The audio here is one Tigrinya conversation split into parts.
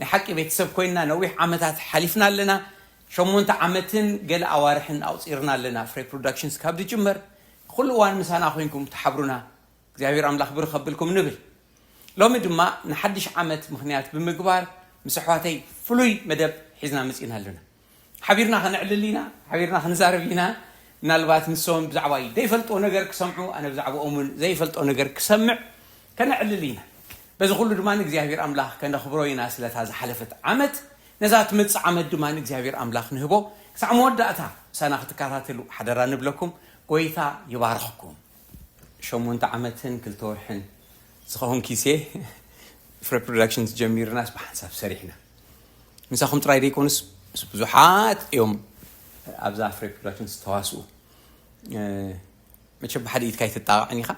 ናይ ሓቂ ቤተሰብ ኮይንና ነዊሕ ዓመታት ሓሊፍና ኣለና። ሸሞንተ ዓመትን ገለ ኣዋርሕን ኣቑጺርና ኣለና ፍሬ ፕሮዳክሽንስ ካብ ዝጅመር። ንኹሉ እዋን ምሳና ኮይንኩም ትሓብሩና እግዚኣብሄር ኣምላኽ ብሩኽ ከብልኩም ንብል። ሎሚ ድማ ንሓድሽ ዓመት ምኽንያት ብምግባር ምስ ኣሕዋተይ ፍሉይ መደብ ሒዝና መጺእና ኣለና። ሓቢርና ከነዕልል ኢና፣ ሓቢርና ክንዛረብ ኢና፣ ምናልባት ንሶም ብዛዕባይ ዘይፈልጥዎ ነገር ክሰምዑ፣ ኣነ ብዛዕብኦም እውን ዘይፈልጦ ነገር ክሰምዕ ከነዕልል ኢና። በዚ ኩሉ ድማ ንእግዚኣብሔር ኣምላኽ ከነኽብሮ ኢና ስለታ ዝሓለፈት ዓመት፣ ነዛ ትመጽእ ዓመት ድማ ንእግዚኣብሔር ኣምላኽ ንህቦ ክሳዕ መወዳእታ ምሳና ክትከታተሉ ሓደራ ንብለኩም፣ ጎይታ ይባርኽኩም። ሸሞንተ ዓመትን ክልተ ወርሕን ዝኸውን ኪሴ ፍረ ፕሮዳክሽንስ ጀሚርናስ ብሓንሳብ ሰሪሕና ምሳኹም ጥራይ ዘይኮኑስ ምስ ብዙሓት እዮም ኣብዛ ፍረ ፕሮዳክሽንስ ዝተዋስኡ መቸ ብሓደ ኢድካ ኣይትጣቕዕን ኢኻ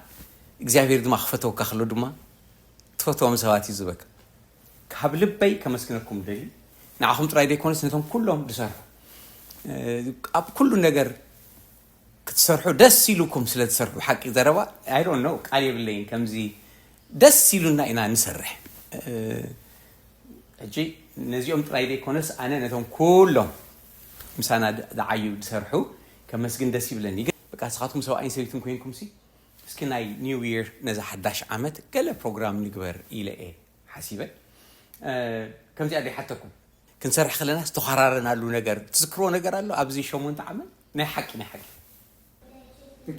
እግዚኣብሄር ድማ ክፈተወካ ከሎ ድማ ትፈትዎም ሰባት እዩ ዝበካ ካብ ልበይ ከመስግነኩም ደሊ ንዓኹም ጥራይ ዘይኮነስ ነቶም ኩሎም ዝሰርሑ ኣብ ኩሉ ነገር ክትሰርሑ ደስ ኢሉኩም ስለ ትሰርሑ ሓቂ ዘረባ I don't know ቃል የብለይን ከምዚ ደስ ኢሉና ኢና ንሰርሕ ሕጂ ነዚኦም ጥራይ ዘይኮነስ ኣነ ነቶም ኩሎም ምሳና ዝዓዩ ዝሰርሑ ከመስግን ደስ ይብለኒ ግን በቃ ንስኻትኩም ሰብኣይን ሰበይትን ኮይንኩምሲ እስኪ ናይ ኒው ይር ነዛ ሓዳሽ ዓመት ገለ ፕሮግራም ንግበር ኢለ እየ ሓሲበ ከምዚኣ ዘይሓተኩም ክንሰርሕ ከለና ዝተዃራረናሉ ነገር ትዝክርዎ ነገር ኣሎ ኣብዚ ሸሞንተ ዓመት ናይ ሓቂ ናይ ሓቂ።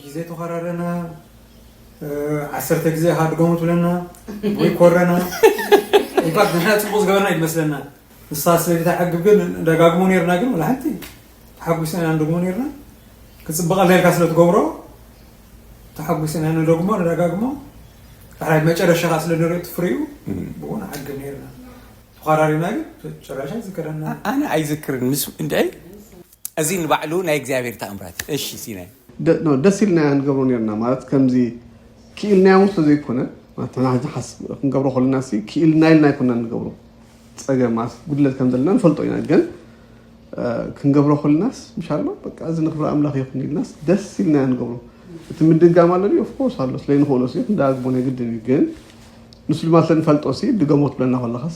ግዜ ተኮራረና ዓሰርተ ግዜ ኢካ ድገሙ ትብለና ወይ ኮረና እንኳዕ ንሕና ፅቡቅ ዝገበርና እዩ ዝመስለና ንሳ ስለዘይተዓግብ ግን ደጋግሞ ነርና ግን ወላ ሓንቲ ተሓጒስና ኢና ንደግሞ ነርና ክፅብቀልና ኢልካ ስለትገብሮ ተሓጒስና ንደግሞ ንደጋግሞ ዳሕራይ መጨረሻኻ ስለ ንሪኦ ትፍርዩ ብኡ ንዓግብ ነርና ተኸራሪብና ግን ጭራሻ ዝከረና ኣነ ኣይዝክርን ምስ እንታይ እዚ ንባዕሉ ናይ እግዚኣብሔር ተኣምራት እዩ እሺ ሲናይ። ደ- ኖ፣ ደስ ኢልናዮ ንገብሮ ነርና ማለት ከምዚ ክኢልናዮ እውን ስለዘይኮነ ማለት ንሕና ሕጂ ሓስ- ክንገብሮ ከለና ሲ ክኢልና ኢልና ኣይኮና ንገብሮ ፀገም ማለት ጉድለት ከም ዘለና ንፈልጦ ኢና ግን እ፣ ክንገብሮ ከለናስ ምሻሎ በቃ እዚ ንክብሪ ኣምላኽ ይኹን ኢልናስ ደስ ኢልናዮ ንገብሮ እቲ ምድጋም ኣሎ ድዩ ኦፍኮርስ ኣሎ ስለይንኽእሎ ሲ ክንደጋግሞ ናይ ግድን እዩ ግን ንሱ ድማ ስለንፈልጦ ሲ ድገሞ ትብለና ከለኻስ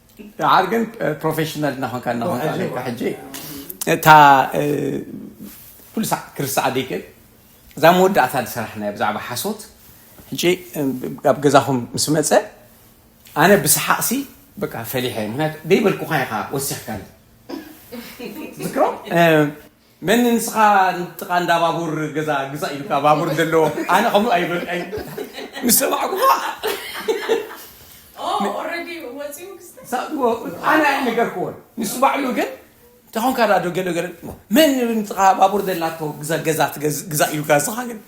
ንዓር ግን ፕሮፌሽናል እናኾንካ እናኾንካ ኣለካ ሕጂ እታ ኩሉ ሳዕ ክርስሳዕ ደይክእል እዛ መወዳእታ ዝሰራሕናዮ ብዛዕባ ሓሶት ሕጂ ኣብ ገዛኹም ምስ መፀ ኣነ ብሰሓቕሲ በቃ ፈሊሐ ምክንያቱ ደይበልኩኻ ኢኻ ወሲኽካኒ ዝክሮ መን ንስኻ ንጥቃ እንዳ ባቡር ገዛ ግዛእ ኢሉካ ባቡር ዘለዎ ኣነ ከምኡ ኣይበልካይ ምስ ሰማዕኩ ኣነ ኣይነገርክዎን ንሱ ባዕሉ ግን ተኾንካ ዳ ዶ ገለ ገለ መን ንጥቃ ባቡር ዘላቶ ገዛ ግዛእ ኢሉካ ንስኻ ግን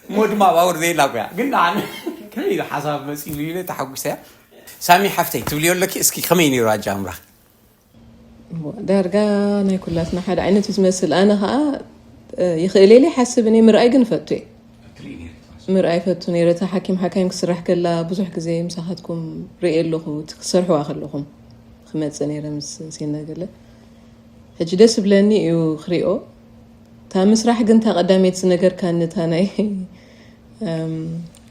እሞ ድማ ባቡር ዘየላ ኮያ ግን ኣነ ከመይ ኢሉ ሓሳብ መፂሉ ኢለ ተሓጒሰ ሳሚ ሓፍተይ ትብልዮ ኣለኪ እስኪ ከመይ ነይሩ ኣጃምራኺ ዳርጋ ናይ ኩላትና ሓደ ዓይነት እዩ ዝመስል ኣነ ከዓ ይኽእል ኢለ ይሓስብ እኔ ምርኣይ ግን እፈቱ እየ ምርኣይ ፈቱ ነይረ እታ ሓኪም ሓካይም ክስራሕ ከላ ብዙሕ ግዜ ምሳኻትኩም ርእየ ኣለኹ እቲ ክሰርሕዋ ከለኹም ክመፅእ ነይረ ምስ ሴና ገለ ሕጂ ደስ ብለኒ እዩ ክሪኦ እታ ምስራሕ ግን እታ ቀዳሜት ዝነገርካኒ እታ ናይ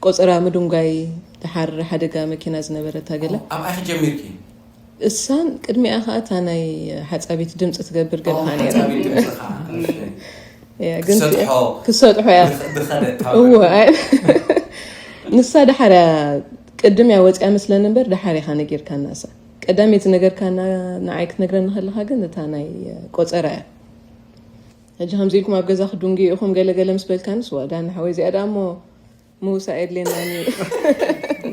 ቆፀራ ምድንጓይ ድሓር ሓደጋ መኪና ዝነበረታ ገለ ኣብኣ ክጀሚርኪ እሳን ቅድሚኣ ከኣ እታ ናይ ሓጻቢት ድምጺ ትገብር ገለ ከኣ ነይራ ክትሰጥሖ እያ እወ ንሳ ደሓር እያ ቅድም እያ ወፅያ መስለኒ እምበር ደሓር ኢኻ ነጊርካና እሳ ቀዳመይቲ ዝነገርካና ንዓይ ክትነግረኒ ከለካ ግን እታ ናይ ቆፀራ እያ ሕጂ ከምዚ ኢልኩም ኣብ ገዛ ክድንጉ ኢኹም ገለገለ ምስ በልካንስ ዋጋ ንሓወይ እዚኣ ደኣ እሞ ምውሳእ የድልየናን እዩ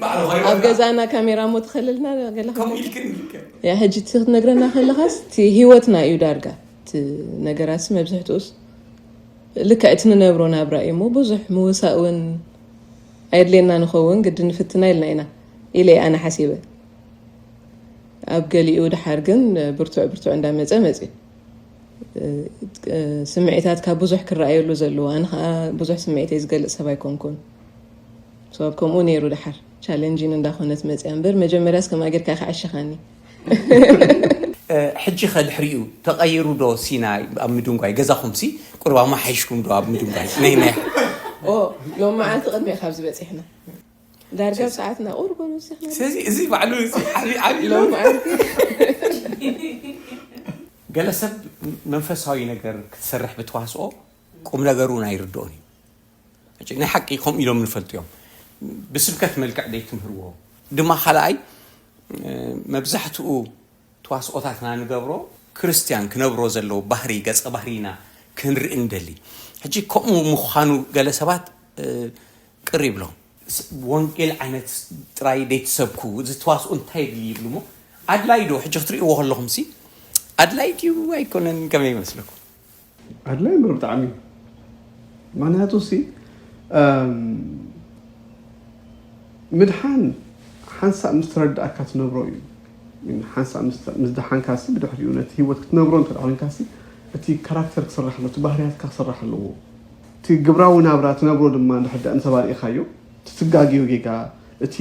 ባዕሉ ኣብ ኮይና ገዛና ካሜራ እሞ ትኸልልና ገለ ከምኡ ኢልክ እንዲልክ ያ ሕጂ እቲ ክትነግረና ከለኻስ እቲ ሂወትና እዩ ዳርጋ እቲ ነገራሲ መብዝሕትኡስ ልክዕ እቲ ንነብሮ ናብራ እዩ እሞ ብዙሕ ምውሳእ እውን ኣየድልየና ንኸውን ግዲ ንፍትና ኢልና ኢና ኢለ እየ ኣነ ሓሲበ ኣብ ገሊኡ ድሓር ግን ብርቱዕ ብርቱዕ እንዳመፀ መፅዩ ስምዒታት ካብ ብዙሕ ክረኣየሉ ዘለዎ ኣነ ከዓ ብዙሕ ስምዒተይ ዝገልፅ ሰብ ኣይኮንኩን ሰብ ከምኡ ነይሩ ድሓር ቻለንጂን እንዳኾነት መፅያ እምበር መጀመርያስ ከምኣ ጌርካ ክዕሸኻኒ ሕጂ ከ ድሕሪኡ ተቐይሩ ዶ ሲና ኣብ ምድንጓይ ገዛኹም ሲ ቁሩብ ኣማሓይሽኩም ዶ ኣብ ምድንጓይ ናይ ናይ ኦ ሎም መዓልቲ ቅድሚኡ ካብዚ በፂሕና ዳርጋ ሰዓትና ቁርብ ንስሕና ስለዚ እዚ ባዕሉ እዚ ዓብዪ ዓብዪ ሎ ለውጢ መዓልቲ ገለ ሰብ መንፈሳዊ ነገር ክትሰርሕ ብተዋስኦ ቁም ነገሩ እውን ኣይርድኦን እዩ ሕጂ ናይ ሓቂ ከምኡ ኢሎም ንፈልጡ እዮም ብስብከት መልክዕ ዘይትምህርዎ ድማ ካልኣይ እ፣ መብዛሕትኡ ተዋስኦታትና ንገብሮ ክርስትያን ክነብሮ ዘለዎ ባህሪ ገጸ ባህሪና ክንርኢ እንደሊ ሕጂ ከምኡ ምዃኑ ገለ ሰባት እ፣ ቅር ይብሎም። ወንጌል ዓይነት ጥራይ ደይትሰብኩ እዚ ተዋስኦ እንታይ የድሊ ይብሉ እሞ ኣድላይ ዶ ሕጂ ክትርእይዎ ከለኹም ሲ ኣድላይ ድዩ ኣይኮነን ከመይ ይመስለኩም? ኣድላይ እምበር ብጣዕሚ ምክንያቱ ሲ ምድሓን ሓንሳእ ምስ ተረዳእካ ትነብሮ እዩ ሓንሳእ ምስ ደሓንካ ሲ ብድሕሪኡ ነቲ ሂወት ክትነብሮ እንተ ኮይንካ ሲ እቲ ካራክተር ክስራሕ እቲ ባህርያትካ ክስራሕ ኣለዎ እቲ ግብራዊ ናብራ ትነብሮ ድማ እንድሕር ድኣ እንተባሪእኻዮ ትትጋገዮ ጌጋ እቲ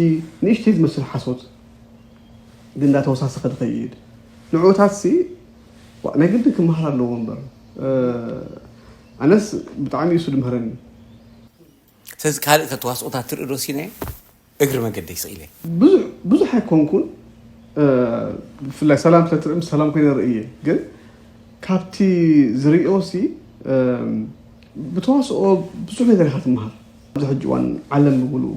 ንእሽተይ ዝመስል ሓሶት ግን እንዳተወሳሰኸ ድኸይድ ንዑኡታትሲ ዋእ ናይ ግድን ክመሃር ኣለዎ እምበር ኣነስ ብጣዕሚ እዩሱ ድምህረኒ። ስለዚ ካልእ ከ ተዋስኦታት ትርኢ ዶ ሲናየ? እግሪ መገደይ ስቅ ኢለ። ብዙሕ ብዙሕ ኣይኮንኩን ብፍላይ ሰላም ስለትርኢ ምስ ሰላም ኮይነ ርኢ እየ ግን ካብቲ ዝሪኦ ሲ ብተዋስኦ ብዙሕ ነገር ኢካ ትመሃር ኣብዚ ሕጂ እዋን ዓለም ብምልኡ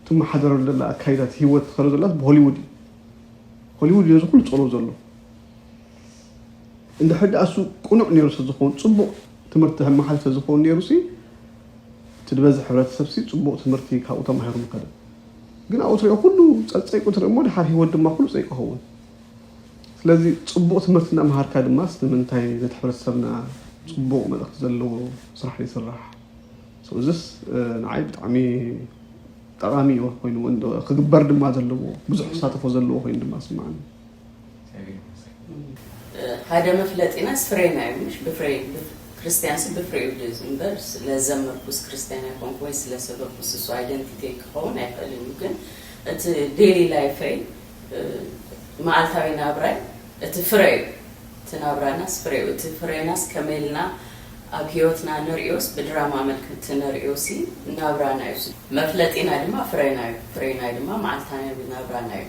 ትመሓደረሉ ዘላ ኣካይዳ እቲ ሂወት ትከዶ ዘላስ ብሆሊውድ እዩ ሆሊውድ ነዚ ኩሉ ጸሎ ዘሎ እንድሕር ደኣ እሱ ቅኑዕ ነይሩ ስለዝኸውን ጽቡቕ ትምህርቲ መሓልፍ ስለዝኸውን ነይሩ ሲ እቲ ድበዝሕ ሕብረተሰብሲ ጽቡቕ ትምህርቲ ካብኡ ተማሂሩ ምኸደ። ግን ኣብኡ ትሪኦ ኩሉ ጸጸይቁ ትርኢ እሞ ድሓር ህይወት ድማ ኩሉ ጸይቁ ይኸውን። ስለዚ ጽቡቕ ትምህርቲ እናመሃርካ ድማስ ንምንታይ ነቲ ሕብረተሰብና ጽቡቕ መልእኽቲ ዘለዎ ስራሕ ዘይስራሕ? So እዝስ ንዓይ ብጣዕሚ ጠቓሚ ኮይኑ ክግበር ድማ ዘለዎ ብዙሕ ተሳተፎ ዘለዎ ኮይኑ ድማ ስምዓኒ። ሃደ መፍለጢናስ ፍሬና እዩ ምሽ ብፍሬ ክርስትያንስ ብፍሬ እዩ ዝንበር ስለዘመርኩስ ክርስትያን ኣይኮንኩ ወይ ስለሰበኩስ እሱ ኣይደንቲቲ ክኸውን ኣይክእልን እዩ ግን እቲ ዴሊ ላይፈይ መዓልታዊ ናብራይ እቲ ፍረ እዩ እቲ ናብራናስ ፍረ እዩ እቲ ፍሬናስ ከመልና ኣብ ህይወትና ንሪኦስ ብድራማ መልክቲ ንሪኦሲ ናብራና እዩ መፍለጢና ድማ ፍሬና እዩ ፍሬና ድማ መዓልታዊ ናብራና እዩ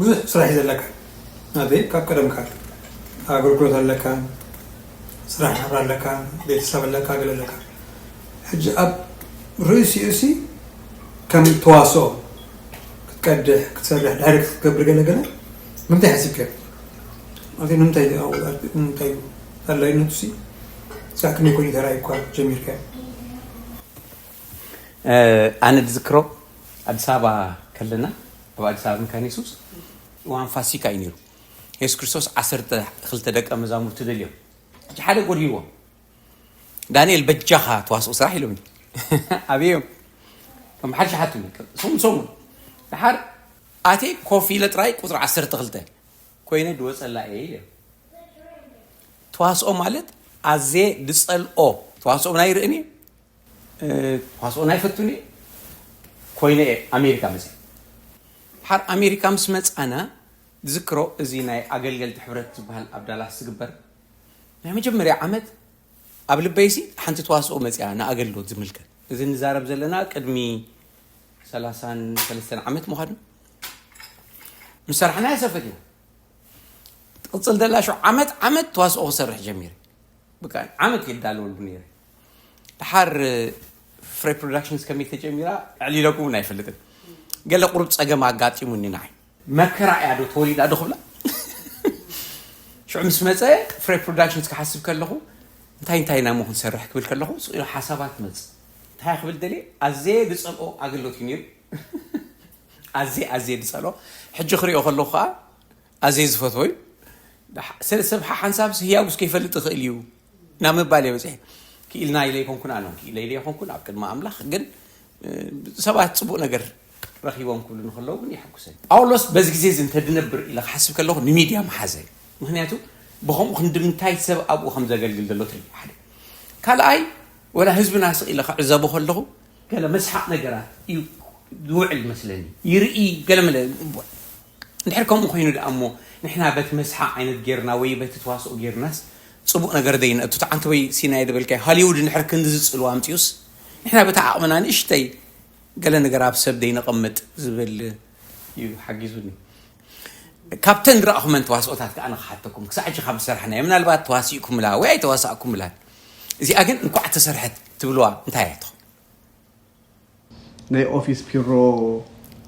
ብዙሕ ስራሕ እዩ ዘለካ ናተይ ካብ ቀደም ካብ ኣገልግሎት ኣለካ ስራሕ ናብራ ኣለካ ቤተሰብ ኣለካ ገለ ኣለካ ሕጂ ኣብ ርእሲኡ ሲ ከም ተዋስኦ ክትቀድሕ ክትሰርሕ ዳይሬክት ክትገብር ገለ ገለ ምንታይ ሓሲብከ ማለት ንምንታይ ንምንታይ ኣድላይነቱ ሲ ሳዕ ክንደይ ኮይኑ ተራእዩኳ ጀሚርካ ኣነ ዝዝክሮ ኣዲስ ኣበባ ከለና ኣብ ኣዲስ ኣበባ መካነ የሱስ እዋን ፋሲካ እዩ ነይሩ የሱስ ክርስቶስ ዓሰርተ ክልተ ደቀ መዛሙርቲ ደልዮም ሕጂ ሓደ ጎድልዎም ዳንኤል በጃኻ ተዋስኦ ስራሕ ኢሎምኒ ኣብዮም ከም ሓድሽ ሓትኒ ሰሙን ሰሙን ድሓር ኣቴ ኮፍ ኢለ ጥራይ ቁፅሪ ዓሰርተ ክልተ ኮይነ ድወፀላ እየ ኢለ ተዋስኦ ማለት ኣዜ ድፀልኦ ተዋስኦ ናይ ርእኒ ተዋስኦን ኣይፈቱን እየ ኮይነ እየ ኣሜሪካ መፅእ ድሓር ኣሜሪካ ምስ መፃእነ ዝክሮ እዚ ናይ ኣገልገልቲ ሕብረት ዝበሃል ኣብ ዳላስ ዝግበር ናይ መጀመርያ ዓመት ኣብ ልበይሲ ሓንቲ ተዋስኦ መፅያ ንኣገልግሎት ዝምልከት እዚ ንዛረብ ዘለና ቅድሚ ሰላሳን ሰለስተን ዓመት ምዃኑ ምስ ሰራሕና ያሰፈት እዩ ትቕፅል ዘላ ሸው ዓመት ዓመት ተዋስኦ ክሰርሕ ጀሚረ ብቃ ዓመት የዳለወሉ ነይረ ድሓር ፍሬ ፕሮዳክሽንስ ከመይ ተጀሚራ ዕሊለኩ እውን ኣይፈልጥን ገለ ቁሩብ ፀገም ኣጋጢሙኒ ንዓይ መከራ እያ ዶ ተወሊዳ ዶ ክብላ ሽዑ ምስ መፀ ፍሬ ፕሮዳክሽንስ ክሓስብ ከለኹ እንታይ እንታይ ኢና ሞ ክንሰርሕ ክብል ከለኹ ስቕ ኢሉ ሓሳባት መፅ እንታይ ክብል ደልየ ኣዘየ ዝፀልኦ ኣገልግሎት እዩ ነይሩ ኣዘየ ኣዘየ ዝፀልኦ ሕጂ ክሪኦ ከለኹ ከዓ ኣዘየ ዝፈትዎ እዩ ሰብ ሓሓንሳብስ ህያውስ ከይፈልጥ ይኽእል እዩ ናብ ምባል እየ በፂሐ። ክኢልና ኢለ ኣይኮንኩን ኣነ እውን ክኢለ ኢለ ኣይኮንኩን ኣብ ቅድሚ ኣምላኽ ግን ሰባት ፅቡቅ ነገር ረኺቦም ክብሉ ንክለው ግን ይሕጉሰ ጳውሎስ በዚ ግዜ እዚ እንተድነብር ኢለ ክሓስብ ከለኹ ንሚድያ ምሓዘ ምክንያቱ ብከምኡ ክንድምንታይ ሰብ ኣብኡ ከም ዘገልግል ዘሎ ትርኢ ሓደ ካልኣይ ወላ ህዝብና ስቕ ኢለ ክዕዘቦ ከለኹ ገለ መስሓቅ ነገራት እዩ ዝውዕል መስለኒ ይርኢ ገለ መለ እንድሕር ከምኡ ኮይኑ ደኣ እሞ ንሕና በቲ መስሓቕ ዓይነት ጌርና ወይ በቲ ተዋስኦ ጌርናስ ጽቡቕ ነገር ዘይነእቱ ተዓንተወይ ሲናየ ዝበልካዮ ሃሊውድ እንድሕር ክንድዚ ጽልዋ ኣምጺኡስ ንሕና በታ ዓቕምና ንእሽተይ ገለ ነገር ኣብ ሰብ ዘይነቐምጥ ዝብል እዩ ሓጊዙኒ ካብተን ዝረኣኹመን ተዋስኦታት ከኣ ንክሓተኩም ክሳዕ ሕጂ ካብ ዝሰራሕናዮ ምናልባት ተዋሲእኩምላ ወይ ኣይተዋሳእኩምላን እዚኣ ግን እንኳዕ ተሰርሐት ትብልዋ እንታይ እያ ትኾን ናይ ኦፊስ ፒሮ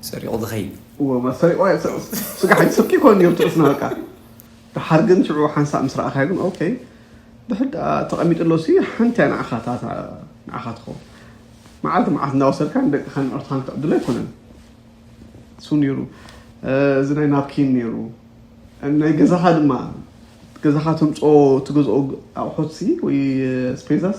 ሰሪቑ ዝኸይድ። እወ ማ ሰሪቑ ስጋ ሓይሊ ስርቂ ኮን ኔሩ ትርፍና በቃ ደሓር ግን ሽዑ ሓንሳእ ምስ ረኣኻዮ ግን ኦኬ ብሕድ ተቐሚጥሎ ሲ ሓንቲ እያ ንዓኻ ንዓኻ ትኸውን መዓልቲ መዓልቲ እንዳወሰድካ ንደቅኻን ንዕርትኻን ክትዕድሎ ኣይኮነን እሱ ነይሩ እዚ ናይ ናፕኪን ነይሩ ናይ ገዛኻ ድማ ገዛኻ ተምፅኦ ትገዝኦ ኣቑሑት ሲ ወይ ስፔዛስ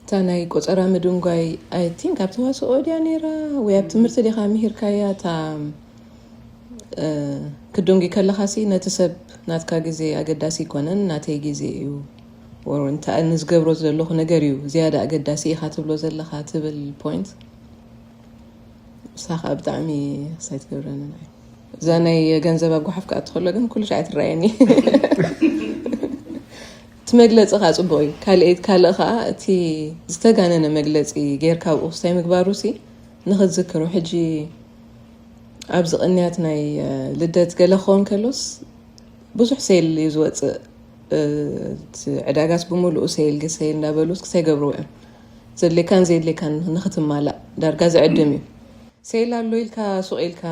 እታ ናይ ቆጸራ ምድንጓይ ኣይ ቲንክ ኣብ ተዋስኦ ድያ ነይራ ወይ ኣብ ትምህርቲ ዲኻ ምሂርካያ እታ ክድንጒ ከለኻሲ ነቲ ሰብ ናትካ ግዜ ኣገዳሲ ኣይኮነን ናተይ ግዜ እዩ ወር እንታይ ንዝገብሮ ዘለኹ ነገር እዩ ዝያዳ ኣገዳሲ ኢኻ ትብሎ ዘለኻ ትብል ፖይንት ሳኻ ብጣዕሚ ሳይ ትገብረኒ እዛ ናይ ገንዘብ ኣጓሓፍ ክኣ ትኸሎ ግን ኩሉ ሻዕ ትረኣየኒ እቲ መግለጺ ከኣ ጽቡቅ እዩ ካልኤት ካልእ ከኣ እቲ ዝተጋነነ መግለጺ ጌርካ ኣብኡ ክስታይ ምግባሩሲ ንክትዝክሮ ሕጂ ኣብዚ ቅንያት ናይ ልደት ገለ ክኸውን ከሎስ ብዙሕ ሴል እዩ ዝወጽእ ዕዳጋስ ብምሉኡ ሴል ግሴል እንዳበሉ ክሳይ ገብርዎ እዮም ዘድሌካን ዘየድሌካን ንክትማላእ ዳርጋ ዝዕድም እዩ ሴል ኣሎ ኢልካ ሱቅ ኢልካ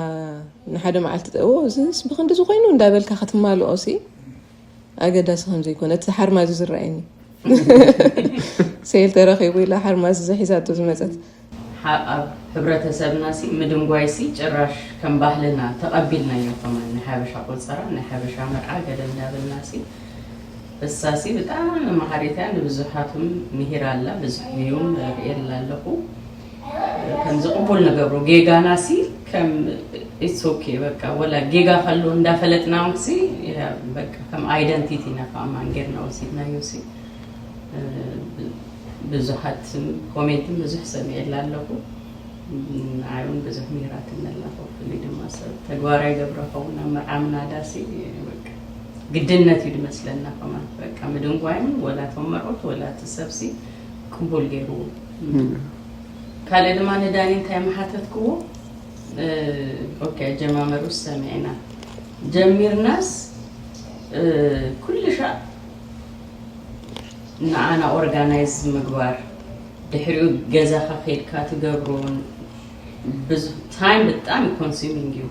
ንሓደ መዓልቲ ጠዎ እዚስ ብክንዲ ዝኮይኑ እንዳበልካ ክትማልኦ ሲ ኣገዳሲ ከም ዘይኮነ እቲ ሓርማዝ ዝረኣየኒ ሰይል ተረኺቡ ኢላ ሓርማዝ ዘሒዛቶ ዝመፀት ኣብ ሕብረተሰብና ሲ ምድንጓይ ሲ ጭራሽ ከም ባህልና ተቐቢልናዮ ከማን ናይ ሓበሻ ቆፀራ ናይ ሓበሻ መርዓ ገለ እንዳበልና ሲ እሳ ሲ ብጣዕሚ መሃሪት እያ ንብዙሓትም ምሂራ ኣላ ብዙሕ ቪውን ርእየላ ኣለኹ ከም ዝቕቡል ንገብሮ ጌጋና ሲ ከም ኢትስ ኦኬ በቃ ወላ ጌጋ ከሎ እንዳፈለጥና እውን ሲ በቃ ከም ኣይደንቲቲ ኢና ከዓ ማን ጌርና ወሲድናዮ ሲ ብዙሓት ኮሜንትን ብዙሕ ሰሚዐላ ኣለኹ ንዓይውን ብዙሕ ምሂራት ኣለኹ ፍሉይ ድማ ሰብ ተግባራዊ ገብረ ኸውን ኣብ መርዓ ምናዳ ሲ በቃ ግድነት እዩ ድመስለና ከማን በቃ ምድንጓይን ወላ ተመርዑት ወላ እቲ ሰብ ሲ ቅቡል ገይሩ ካልእ ድማ ንዳኒ እንታይ ምሓተትክዎ ኦኬ ኣጀማመሩስ ሰሚዕና ጀሚርናስ ኩልሻዕ ንዓና ኦርጋናይዝ ምግባር ድሕሪኡ ገዛኻ ከይድካ ትገብሮን ታይም ብጣዕሚ ኮንሱሚንግ እዩ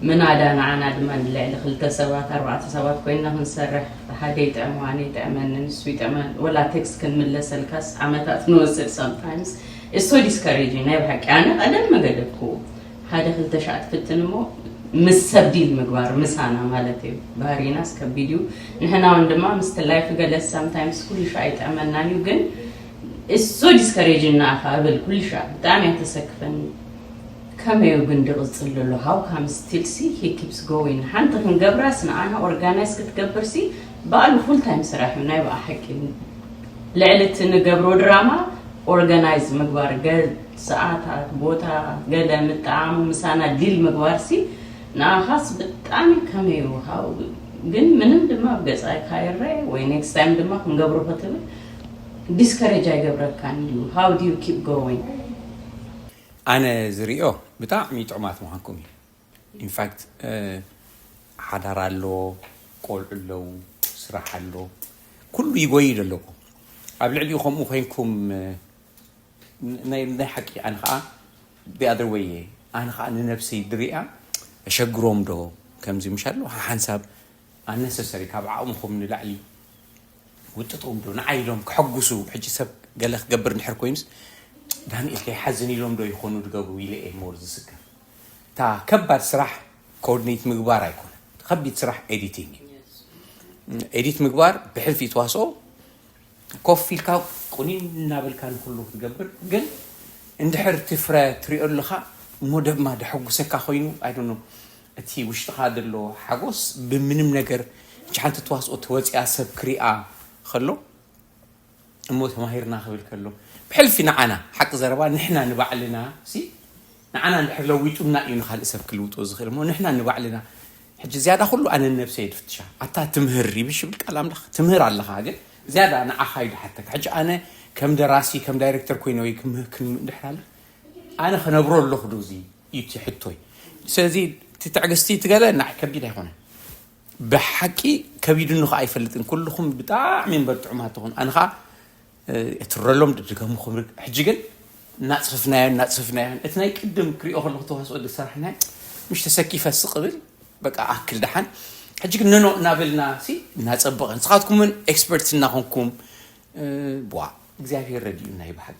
ምናዳ ንዓና ድማ ንልዕሊ ክልተ ሰባት ኣርባዕተ ሰባት ኮይና ክንሰርሕ እቲ ሓደ ይጥዕሞ ኣነ ይጥዕመኒ ንሱ ይጥዕመን ወላ ቴክስት ክንምለሰልካስ ዓመታት ንወስድ ሳምታይምስ ኢትስ ሶ ዲስካሬጂንግ ናይ ብሓቂ ኣነ ቀደም መገደብክዎ ሓደ ክልተ ሻዕ ትፍትን እሞ ምስ ሰብ ዲል ምግባር ምሳና ማለት እዩ ባህሪናስ ከቢድ እዩ ንሕናውን ድማ ምስቲ ላይፍ ገለስ ሳምታይምስ ኩሉ ሻዕ ይጥዕመናን እዩ ግን It's so discouraging ንኣኻ እብል ኩልሻዕ ብጣዕሚ እያ ተሰክፈኒ ከመይ እዩ ግን ድቕጽል ድሎ how come still ሲ he keeps going ሓንቲ ክንገብራስ ንዓና organize ክትገብር ሲ ባዕሉ full time ስራሕ እዩ ናይ ብኣ ሓቂ ልዕሊ እቲ ንገብሮ ድራማ organize ምግባር ገል ሰዓታት ቦታ ገለ ምጥዓሙ ምሳና ዲል ምግባር ሲ ንኣኻስ ብጣዕሚ ከመይ እዩ how ግን ምንም ድማ ኣብ ገጻ ካይረኤ ወይ next time ድማ ክንገብሮ ክትብል ዲስከሬጅ ኣይገብረካን ድዩ ሃው ዲዩ ኪፕ ጎዊንግ። ኣነ ዝሪኦ ብጣዕሚ ጥዑማት ምዃንኩም እዩ ኢንፋክት ሓዳር ኣሎ ቆልዑ ኣለው ስራሕ ኣሎ ኩሉ ይጎይ ዘለኩ ኣብ ልዕሊኡ ከምኡ ኮይንኩም ናይ ሓቂ ኣነ ከዓ ቢኣደር ወይ እየ ኣነ ከዓ ንነብሰይ ድሪኣ እሸግሮም ዶ ከምዚ ምሻ ኣሎ ሓንሳብ ኣነሰሰሪ ካብ ዓቅምኹም ንላዕሊ ውጥጥዎም ዶ ንዓይ ኢሎም ከሐጉሱ ሕጂ ሰብ ገለ ክገብር እንድሕር ኮይኑስ ዳንኤል ከይሓዝን ኢሎም ዶ ይኾኑ ዝገብሩ ኢለ እየ ሞር ዝስከፍ እታ ከባድ ስራሕ ኮኦርዲኔት ምግባር ኣይኮነ ከቢድ ስራሕ ኤዲቲንግ እዩ ኤዲት ምግባር ብሕልፊ ተዋስኦ ኮፍ ኢልካ ቁኒን እናበልካ ንኩሉ ክትገብር ግን እንድሕር ትፍረ ትሪኦ ኣለኻ እሞ ደማ ደሐጉሰካ ኮይኑ ኣይዶኖ እቲ ውሽጥኻ ዘሎ ሓጎስ ብምንም ነገር እቺ ሓንቲ ተዋስኦ ተወፂኣ ሰብ ክሪኣ ከሎ እሞ ተማሂርና ክብል ከሎ ብሕልፊ ንዓና ሓቂ ዘረባ ንሕና ንባዕልና ሲ ንዓና እንድሕር ለዊጡና እዩ ንካልእ ሰብ ክልውጦ ዝኽእል እሞ ንሕና ንባዕልና ሕጂ ዝያዳ ኩሉ ኣነ ነብሰ የድፍትሻ ኣታ ትምህር ይብሽ ይብል ቃል ኣምላኽ ትምህር ኣለኻ ግን ዝያዳ ንዓኻ ይድሓተካ ሕጂ ኣነ ከም ደራሲ ከም ዳይሬክተር ኮይነ ወይ ክምህር ክንድሕር ኣለ ኣነ ክነብሮ ኣለኹ ዶ እዚ እዩ እቲ ሕቶይ ስለዚ እቲ ትዕግስቲ እቲ ገለ ንዓይ ከቢድ ኣይኮነን ብሓቂ ከቢድኒ ከዓ ኣይፈልጥን ኩልኹም ብጣዕሚ እምበር ጥዑማት ትኹን ኣነ ከዓ እትረሎም ድድገሙ ክብል ሕጂ ግን እናፅፍፍናዮ እናፅፍፍናዮ እቲ ናይ ቅድም ክሪኦ ከለኹ ተዋስኦ ዝሰራሕናዮ ምሽ ተሰኪፈ ስቕብል በቃ ኣክል ደሓን ሕጂ ግን ነኖ እናበልና ሲ እናፀበቐ ንስኻትኩም እውን ኤክስፐርትስ እናኾንኩም ዋ እግዚኣብሄር ረድኡና እዩ ብሓቂ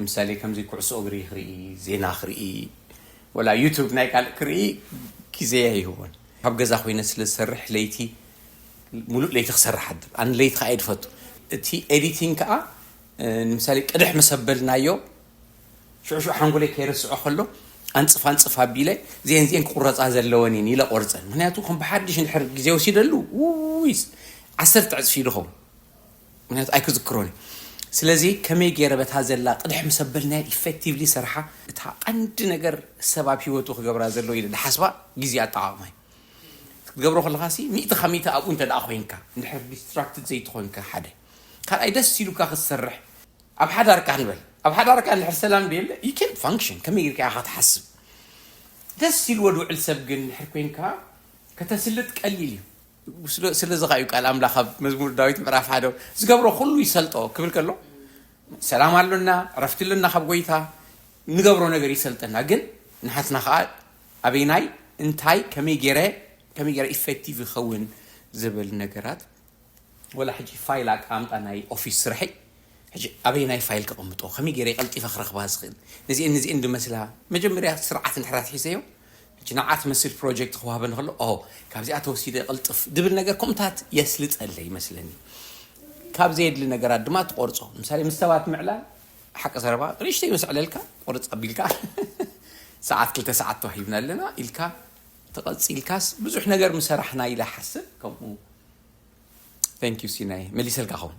ንምሳሌ ከምዚ ኩዕሶ እግሪ ክርኢ ዜና ክርኢ ወላ ዩቱብ ናይ ካልእ ክርኢ ግዜ ኣይህቦን ካብ ገዛ ኮይነ ስለ ዝሰርሕ ለይቲ ሙሉእ ለይቲ ክሰርሕ ኣድር ኣነ ለይቲ ከዓ ይድፈቱ እቲ ኤዲቲንግ ከዓ ንምሳሌ ቅድሕ ምስ ኣበልናዮ ሽዑሽዑ ሓንጎለይ ከይረስዖ ከሎ ኣንፅፍ ኣንፅፍ ኣቢለ ዜን ዜን ክቁረፃ ዘለወን እየን ኢለ ቆርፀን ምክንያቱ ከም ብሓድሽ እንድሕር ግዜ ወሲደሉ ውይስ ዓሰርተ ዕፅፊ ይድኸው ምክንያቱ ኣይክዝክሮን እዩ ስለዚ ከመይ ገይረ በታ ዘላ ቅድሕ ምስ ኣበልናያ ኢፌክቲቭሊ ሰርሓ እታ ቀንዲ ነገር ሰብ ኣብ ሂወቱ ክገብራ ዘለዎ ኢለ ዝሓስባ ግዜ ኣጠቓቕማ እዩ ክትገብሮ ከለካ ሲ ሚእቲ ካብ ሚእቲ ኣብኡ እንተ ኮንካ እንድሕር ዲስትራክትድ ዘይትኮንካ ሓደ ካልኣይ ደስ ኢሉካ ክትሰርሕ ኣብ ሓዳርካ ንበል ኣብ ሓዳርካ እንድሕር ሰላም ደየለ ዩ ኬንት ፋንክሽን ከመይ ኢልካ ኢኻ ትሓስብ ደስ ኢልዎ ዝውዕል ሰብ ግን እንድሕር ኮንካ ከተስልጥ ቀሊል እዩ ስለዚ ኸኣ'ዩ ቃል ኣምላኽ ኣብ መዝሙር ዳዊት ምዕራፍ ሓደ ዝገብሮ ዅሉ ይሰልጦ ክብል ከሎ ሰላም ኣሎና፣ ዕረፍቲ ኣሎና ካብ ጐይታ፣ እንገብሮ ነገር ይሰልጠና። ግን ንሓትና ኸኣ ኣበይናይ፣ እንታይ፣ ከመይ ገይረ ከመይ ገይረ ኢፌክቲቭ ይኸውን ዝብል ነገራት ወላ ሕጂ ፋይል ኣቀማምጣ ናይ ኦፊስ ስርሐይ ሕጂ ኣበይ ናይ ፋይል ከቐምጦ ከመይ ገይረ ቀልጢፈ ክረኽባ ዝኽእል ነዚአን ነዚአን ድመስላ መጀመርያ ስርዓት እንድሕር ኣትሒዘዮ ጅናዓት መሲል ፕሮጀክት ክወሃበኒ ከሎ ኦሆ ካብዚኣ ተወሲደ ቅልጥፍ ድብል ነገር ኮምታት የስልጠለ ይመስለኒ ካብ ዘየድሊ ነገራት ድማ ትቆርጾ ምሳሌ ምስ ሰባት ምዕላል ሓቂ ዘረባ ንእሽተይ መስዕለልካ ቁርጽ ኣቢልካ ሰዓት ክልተ ሰዓት ተዋሂብና ኣለና ኢልካ ተቐጺልካስ ብዙሕ ነገር ምሰራሕና ኢላ ሓስብ ከምኡ ዩ ሲናይ መሊሰልካ ኸውን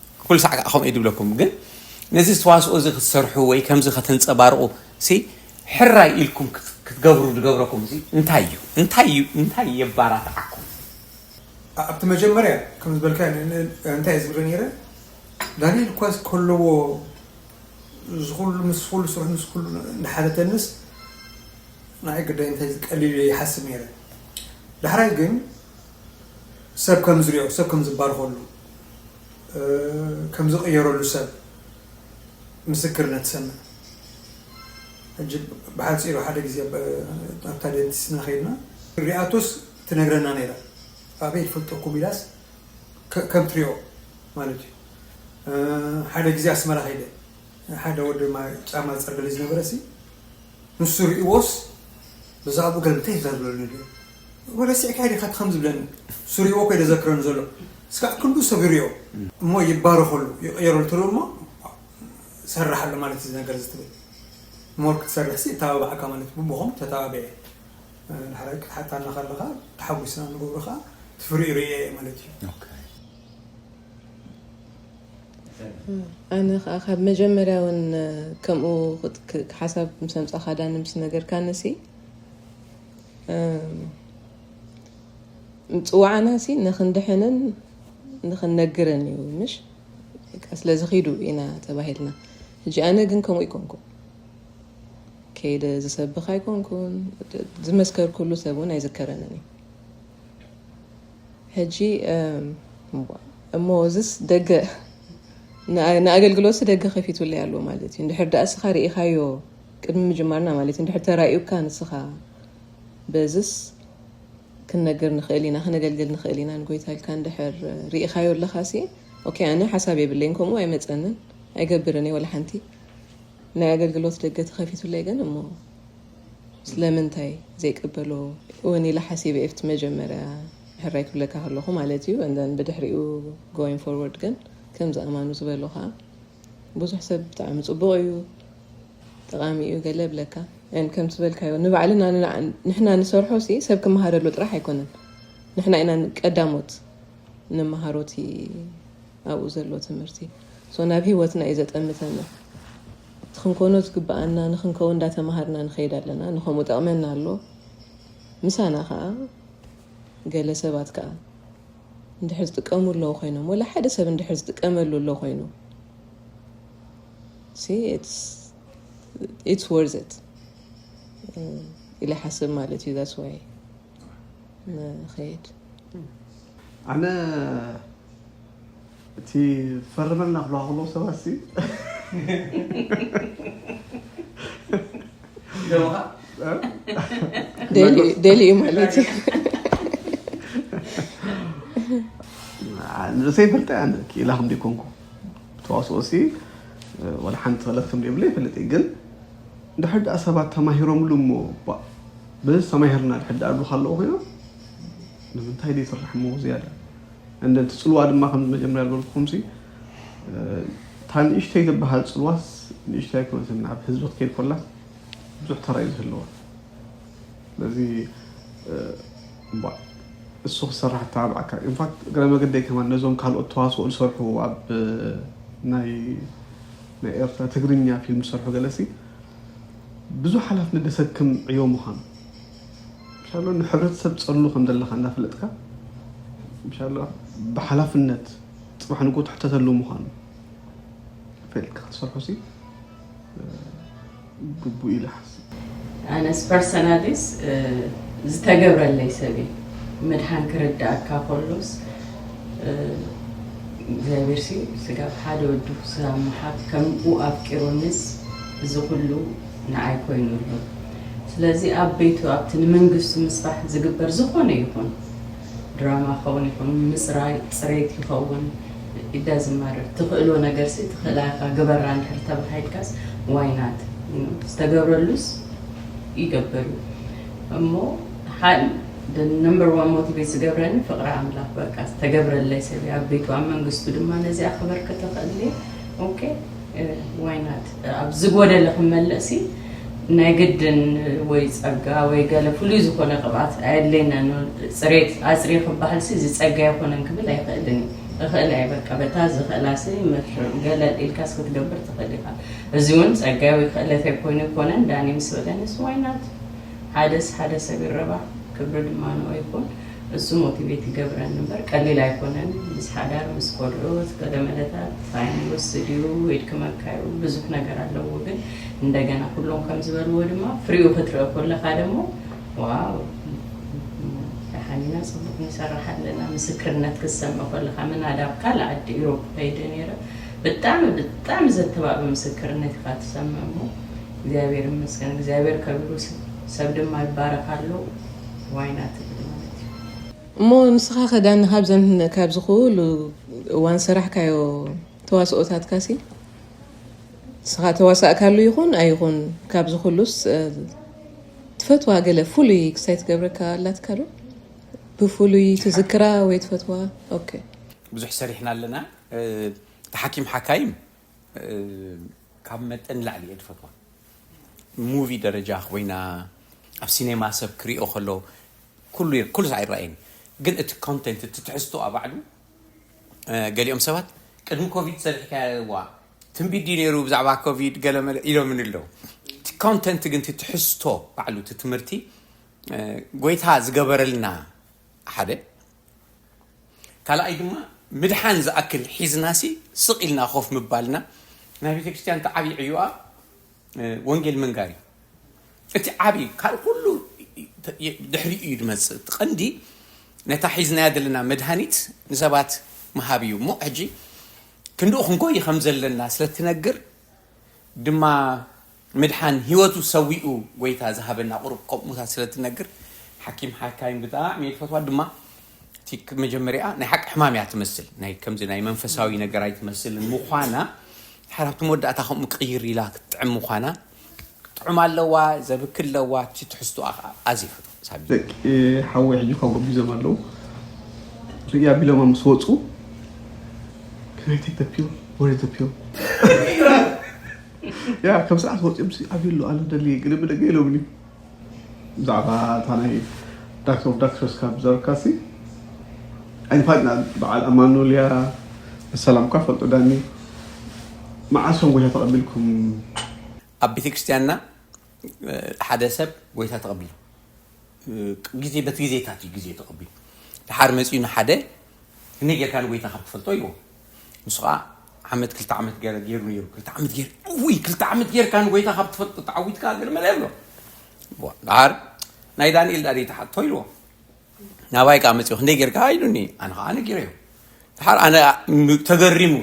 ኩሉ ሳዕ ከኣ ከምኡ ድብለኩም ግን ነዚ ተዋስኦ እዚ ክትሰርሑ ወይ ከምዚ ከተንጸባርቑ ሲ ሕራይ ኢልኩም ክትገብሩ ድገብረኩም እዚ እንታይ እዩ እንታይ እዩ እንታይ የባራትዓኩም? ኣብቲ መጀመርያ ከም ዝበልካዮ እንታይ እየ ዝብል ነይረ ዳንኤል እኳስ ከለዎ እዚ ኩሉ ምስ ኩሉ ስርሑ ምስ ኩሉ እንዳሓተተንስ ንዓይ ግዳይ እንታይ ዝቀሊል እየ ይሓስብ ነይረ ዳሕራይ ግን ሰብ ከም ዝሪኦ ሰብ ከም ዝባረኸሉ ከም ዝቕየረሉ ሰብ ምስክርነት ሰምዕ ሕጂ ብሓፂሩ ሓደ ግዜ ኣብታ ደንቲስትና ከይድና ሪኣቶስ ትነግረና ነይራ ኣበይ ትፈልጠኩም ኢላስ ከም ትሪኦ ማለት እዩ ሓደ ግዜ ኣስመራ ከይደ ሓደ ወዲ ጫማ ዝፀርገለይ ዝነበረ ሲ ንሱ ሪእዎስ ብዛዕባኡ ገለ እንታይ ይዛርበሉ ነይሩ እሞ ረሲዕካዮ ዲካ እቲ ከምዚ ዝብለኒ ስሪዎ ከይደ ዘክረኒ ዘሎ እስካዕ ክንዱ ሰቢሩዮ እሞ ይባረከሉ ይቅየረሉ ትርኡ እሞ ሰራሕ ኣሎ ማለት እዚ ነገር እዚ ትብል ሞር ክትሰርሕ ሲ እተባባዓካ ማለት ብቦኹም ተተባቢዐ ዳሕራይ ክትሓታና ከለካ ተሓጒስና ንገብሮ ከኣ ትፍሪኡ ርእየ ማለት እዩ ኣነ ከዓ ካብ መጀመርያ እውን ከምኡ ሓሳብ ምስ ኣምፃኻ ዳኒ ምስ ነገርካኒ ሲ ምፅዋዕና ሲ ንክንድሕንን ንክንነግርን እዩ ምሽ ስለዚ ኪዱ ኢና ተባሂልና ሕጂ ኣነ ግን ከምኡ ይኮንኩ ከይደ ዝሰብኽ ኣይኮንኩን ዝመስከርኩሉ ሰብ እውን ኣይዝከረንን እዩ ሕጂ እሞ እዚስ ደገ ንኣገልግሎት ደገ ከፊቱለይ ኣሎ ማለት እዩ እንድሕር ዳኣ ስኻ ርኢኻዮ ቅድሚ ምጅማርና ማለት እንድሕር ተራእዩካ ንስኻ በዝስ ክንነግር ንኽእል ኢና ክነገልግል ንኽእል ኢና ንጎይታ ኢልካ እንድሕር ርኢኻዮ ኣለኻሲ ኦኬ ኣነ ሓሳብ የብለይን ከምኡ ኣይመፀንን ኣይገብርን እየ ወላ ሓንቲ ናይ ኣገልግሎት ደገ ተኸፊቱለይ ግን እሞ ስለምንታይ ዘይቅበሎ እውን ኢለ ሓሲበ ኤፍቲ መጀመርያ ሕራይ ክብለካ ከለኹ ማለት እዩ እንደን ብድሕሪኡ ጎይን ፎርወርድ ግን ከምዚ ኣማኑ ዝበሎ ከዓ ብዙሕ ሰብ ብጣዕሚ ጽቡቕ እዩ ጠቓሚ እዩ ገለ ብለካ ን ከምቲ ዝበልካዮ ንባዕልና ንሕና ንሰርሖ ሲ ሰብ ክመሃረሉ ጥራሕ ኣይኮነን ንሕና ኢና ቀዳሞት ንመሃሮ እቲ ኣብኡ ዘሎ ትምህርቲ ሶ ናብ ሂወትና እዩ ዘጠምተና እቲ ክንኮኖ ዝግብኣና ንክንከው እንዳተምሃርና ንኸይድ ኣለና ንከምኡ ጠቕመና ኣሎ ምሳና ከዓ ገለ ሰባት ከዓ እንድሕር ዝጥቀሙ ኣለዉ ኮይኖም ወላ ሓደ ሰብ እንድሕር ዝጥቀመሉ ኣሎ ኮይኑ ኢትስ ወርዝ ኢት ኢለ ሓስብ ማለት እዩ ዛስ ዋይ ንኸይድ ኣነ እቲ ፈርመልና ክብልኻ ከለዉ ሰባት ሲ ደልዩ ማለት እዩ ንርእሰይ ፈልጠ ኣነ ክኢላ ከም ዘይኮንኩ ተዋስኦ ሲ ወላ ሓንቲ ክእለት ከም ዘይብለ ይፈልጥ እዩ ግን ድሕር ድኣ ሰባት ተማሂሮምሉ እሞ በዚ ተማሂርና ድሕር ድኣ ዝብሉካ ኣለዉ ኮይኖም ንምንታይ ዘይስራሕ እሞ ዝያዳ እንደ እቲ ፅልዋ ድማ ከምዚ መጀመርያ ዝበልኩኹምሲ እታ ንእሽተይ ትበሃል ፅልዋስ ንእሽተይ ኣይኮነትን ናብ ህዝቢ ክትከይድ ኮላስ ብዙሕ ተራ እዩ ዝህልዋ ስለዚ እሱ ክሰራሕ ተባብዓካ ኢንፋክት እግረ መገደይ ከማ ነዞም ካልኦት ተዋስኦ ዝሰርሑ ኣብ ናይ ናይ ኤርትራ ትግርኛ ፊልም ዝሰርሑ ገለሲ ብዙሕ ሓላፍነት ደሰክም ዕዮ ምዃኑ ሻሎ ንሕብረተሰብ ትጸሉ ከም ዘለኻ እንዳፈለጥካ ሻሎ ብሓላፍነት ጽባሕ ንግሆ ትሕተተሉ ምዃኑ ፈልጥካ ክትሰርሖ ሲ ግቡእ ኢለ ሓስብ ኣነስ ፐርሰናሊስ ዝተገብረለይ ሰብ እዩ ምድሓን ክርዳእካ ከሎስ እግዚኣብሔር ሲ ስጋብ ሓደ ወዱ ስጋብ ምሓት ከምኡ ኣፍቂሩንስ እዚ ኩሉ ንዓይ ኮይኑ ኣሎ ስለዚ ኣብ ቤቱ ኣብቲ ንመንግስቱ ምስራሕ ዝግበር ዝኾነ ይኹን ድራማ ክኸውን ይኹን ምጽራይ ጽሬት ይኸውን it doesn't matter ትኽእሎ ነገርሲ ትኽእላ ኢኻ ግበራ እንድሕር ተባሂልካስ why not ዝተገብረሉስ ይገብር እዩ እሞ ሓል the number one motivate ዝገብረኒ ፍቕሪ ኣምላኽ በቃ ዝተገብረለይ ሰብ ኣብ ቤቱ ኣብ መንግስቱ ድማ ነዚኣ ክበርክት እኽእል እየ ኦኬ ዋይ ናት ኣብ ዝጎደለ ክመለሲ ናይ ግድን ወይ ጸጋ ወይ ገለ ፍሉይ ዝኾነ ቅብኣት ኣየድለየናን ጽሬት ኣጽርየ ክበሃልሲ እዚ ጸጋ ኣይኮነን ክብል ኣይኽእልን እዩ እኽእል ኣየ በቃ በታ ዝኽእላሲ መፍርም ገለል ኢልካስ ክትገብር ትኽእል ኢኻ እዚ እውን ጸጋይ ወይ ክእለተይ ኮይኑ ኣይኮነን ዳኒ ምስ በለኒስ ዋይ ናት ሓደስ ሓደ ሰብ ይረባሕ ክብሪ ድማ ንኦ ይኹን እሱ ሞቲቬት ይገብረኒ እምበር ቀሊል ኣይኮነን ምስ ሓዳር ምስ ቆልዑ እቲ ቀደመለታት ታይም ይወስድ እዩ የድክመካ እዩ ብዙሕ ነገር ኣለዎ ግን እንደገና ኩሎም ከም ዝበልዎ ድማ ፍሪኡ ክትርኢ ኮለካ ደሞ ዋው ደሓን ኢና ፅቡቅ ንሰራሕ ኣለና ምስክርነት ክትሰምዕ ኮለካ ምናዳ ኣብ ካልእ ዓዲ ኢሮብ ከይደ ነይረ ብጣዕሚ ብጣዕሚ ዘተባብዕ ምስክርነት ኢካ ትሰምዕ እሞ እግዚኣብሔር ይመስገን እግዚኣብሔር ከቢሩ ሰብ ድማ ይባረክ ኣሎ ዋይና ትብል ማለት እዩ እሞ ንስኻ ከዳኒ ካብዘን ካብዚ ኩሉ እዋን ሰራሕካዮ ተዋስኦታትካሲ ንስኻ ተዋሳእካሉ ይኹን ኣይኹን ካብዚ ኩሉስ ትፈትዋ ገለ ፍሉይ ክሳይ ትገብረካ ኣላትካ ዶ ብፍሉይ ትዝክራ ወይ ትፈትዋ ኦኬ ብዙሕ ሰሪሕና ኣለና እቲ ሓኪም ሓካይም ካብ መጠን ንላዕሊ እየ ዝፈትዋ ሙቪ ደረጃ ኮይና ኣብ ሲኔማ ሰብ ክሪኦ ከሎ ኩሉ ኩሉ ኣይረኣየኒ ግን እቲ ኮንቴንት እቲ ትሕዝቶኣ ባዕሉ ገሊኦም ሰባት ቅድሚ ኮቪድ ሰሪሕካዋ ትንቢት ድዩ ነይሩ ብዛዕባ ኮቪድ ገለመለ ኢሎምን ኣለዉ እቲ ኮንተንት ግን እቲ ትሕዝቶ ባዕሉ እቲ ትምህርቲ ጎይታ ዝገበረልና ሓደ ካልኣይ ድማ ምድሓን ዝኣክል ሒዝናሲ ስቕ ኢልና ኮፍ ምባልና ናይ ቤተ ክርስቲያን እቲ ዓብዪ ዕዮኣ ወንጌል ምንጋር እዩ እቲ ዓብዪ ካብ ኩሉ ድሕሪኡ እዩ ድመፅእ እቲ ቀንዲ ነታ ሒዝናያ ዘለና መድሃኒት ንሰባት ምሃብ እዩ እሞ ሕጂ ክንድኡ ክንጎይ ከም ዘለና ስለትነግር ድማ ምድሓን ሂወቱ ሰዊኡ ጎይታ ዝሃበና ቁሩብ ከምኡታት ስለ ትነግር ሓኪም ሓካይም ብጣዕሚ እየ ዝፈትዋ ድማ እቲ መጀመሪያ ናይ ሓቂ ሕማም እያ ትመስል ናይ ከምዚ ናይ መንፈሳዊ ነገር ኣይትመስልን ምዃና ድሓር ኣብቲ መወዳእታ ከምኡ ቅይር ኢላ ክትጥዕም ምዃና ጥዑም ኣለዋ ዘብክ ኣለዋ እቲ ትሕዝቶኣ ከዓ ኣዝየ ፈትዋ ደቂ ሓወይ ሕጂ ካብ ጎቢዞም ኣለው ርእይ ኣቢሎማ ምስ ወፁ ክራይ ተይተፕዮ ወሬ ተፕዮ ያ ከም ሰዓት ወፂኦም ሲ ኣብዩ ኣሎ ኣለ ደልየ ግን ብደገ ኢሎምኒ ብዛዕባ እታ ናይ ዳክተር ኦፍ ዳክተርስ ካብ ዘረካሲ ኣይንፋጥና በዓል ኣማኑኤል እያ ንሰላም እኳ ፈልጦ ዳኒ መዓስ እዮም ጎይታ ተቐቢልኩም ኣብ ቤተክርስቲያንና ሓደ ሰብ ጎይታ ተቐቢሉ ግዜ በቲ ግዜታት እዩ ግዜ ተቐቢሉ ድሓር መፂኡ ንሓደ ከመይ ጌርካ ንጎይታ ካብ ትፈልጦ ኢልዎ ንሱ ከዓ ዓመት ክልተ ዓመት ገይሩ ነይሩ ክልተ ዓመት ገይሩ ውይ ክልተ ዓመት ጌርካ ንጎይታ ካብ ትፈልጦ ተዓዊትካ ገርመለ ይብሎ ድሓር ናይ ዳንኤል ዳዲ ተሓቶ ኢልዎ ናባይ ከዓ መፅኡ ክንደይ ጌርካ ኢሉኒ ኣነ ከዓ ነጊረዮ ድሓር ኣነ ተገሪሙ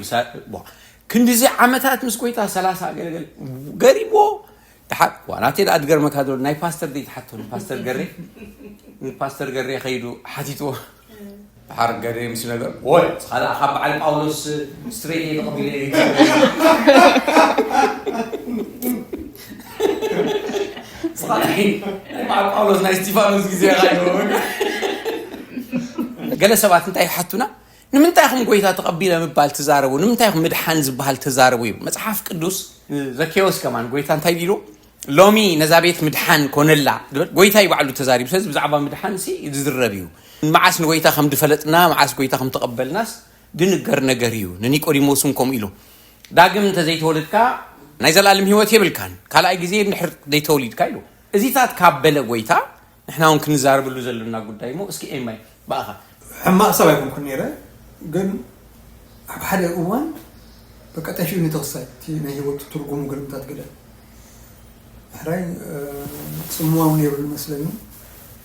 ክንዲዚ ዓመታት ምስ ጎይታ ሰላሳ ገለገለ ገሪምዎ ድሓር ዋናተይ ደኣ ትገርመካ ዶ ናይ ፓስተር ደይ ትሓቶ ፓስተር ገሬ ፓስተር ገሬ ከይዱ ሓቲትዎ ድሓር ገሬ ምስ ነገር ወይ ካልኣ ካብ በዓል ጳውሎስ ስትሬት ተቐቢለ ገለ ሰባት እንታይ ይሓቱና ንምንታይ ኹም ጎይታ ተቐቢለ ምባል ትዛረቡ ንምንታይ ኹም ምድሓን ዝበሃል ተዛረቡ እዩ መፅሓፍ ቅዱስ ዘኬዎስ ከማን ጎይታ እንታይ ቢሉ ሎሚ ነዛ ቤት ምድሓን ኮነላ ጎይታ እዩ ባዕሉ ተዛሪቡ ስለዚ ብዛዕባ ምድሓን ሲ ዝዝረብ እዩ መዓስ ንጎይታ ከም ድፈለጥና መዓስ ጎይታ ከም ተቐበልናስ ድንገር ነገር እዩ ንኒቆዲሞስ እውን ከምኡ ኢሉ ዳግም እንተ ዘይተወልድካ ናይ ዘላለም ህይወት የብልካን፣ ካልኣይ ግዜ እንድሕር ዘይተወሊድካ ኢሉ እዚታት ካብ በለ ጎይታ ንሕና ውን ክንዛረብሉ ዘሎና ጉዳይ እሞ እስኪ ኤማይ ብኣኻ። ሕማቅ ሰብ ኣይኮንኩን ነይረ ግን ኣብ ሓደ እዋን በቃ ጠፊኡኒ ተወሳይ እቲ ናይ ሂወት ትርጉሙ ግርምታት ግደ ሕራይ ጽምዋ ውን ነይሩ ዝመስለኒ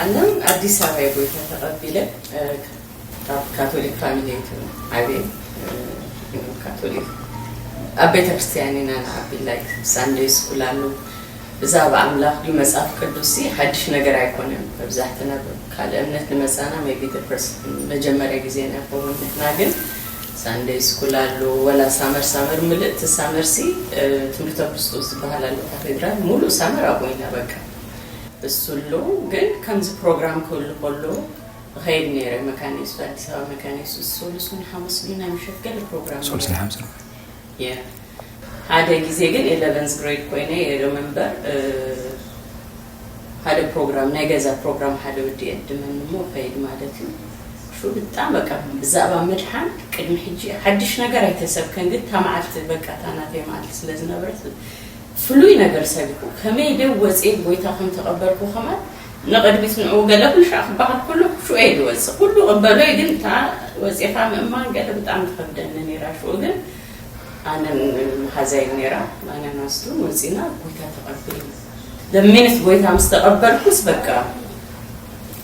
ኣነ ኣዲስ ኣበባ እየ ጎይታ ተቀቢለ ካብ ካቶሊክ ፋሚሊ እየ ዓብየ ካቶሊክ ኣብ ቤተክርስትያን ኢና ንዓቢ ላይክ ሳንደይ ስኩል ኣሎ ብዛዕባ ኣምላኽ ድዩ መጽሓፍ ቅዱስ ሓድሽ ነገር ኣይኮነን መብዛሕትና ካልእ እምነት ንመጻና ቢ መጀመርያ ግዜ ናይ ኸውን ንሕና ግን ሳንደይ ስኩል ኣሎ ወላ ሳመር ሳመር ምልእቲ ሳመርሲ ትምህርተ ክርስቶስ ዝበሃል ኣሎ ካቴድራል ሙሉእ ሳመር ኣብኡ ኢና በቃ እሱ ኣሎ ግን ከምዚ ፕሮግራም ክህሉ ከሎ እኸይድ ነይረ መካነ የሱስ ኣዲስ ኣበባ መካነ የሱስ ሰሉስን ሓሙስ ድዩ ናይ ምሸት ገለ ፕሮግራም ሰሉስን ሓሙስን ሓደ ግዜ ግን ኤለቨንስ ግሬድ ኮይነ የረ መንበር ሓደ ፕሮግራም ናይ ገዛ ፕሮግራም ሓደ ወዲ የድመኒ እሞ እኸይድ ማለት እዩ ሹ ብጣም በቃ ብዛዕባ ምድሓን ቅድሚ ሕጂ ሓድሽ ነገር ኣይተሰብከን ግን እታ መዓልቲ በቃ እታ ናተይ መዓልቲ ስለ ዝነበረት ፍሉይ ነገር ሰቢኩ ከመይ ዴው ወጽየ ብጎይታ ከም ተቀበልኩ ከማን ንቅድሚት ንዑ ገለ ኩልሻዕ ክባሃል ከሎ ሹዑ እየ ድወጽእ ኩሉ እቅበሎ እየ ግን እታ ወጺኻ ምእማን ገለ ብጣዕሚ ትከብደኒ ኔራ ሹዑ ግን ኣነን መሓዛይን ኔራ ኣነን ኣስቱን ወጺና ጎይታ ተቀቢልና the minute ጎይታ ምስ ተቀበልኩስ በቃ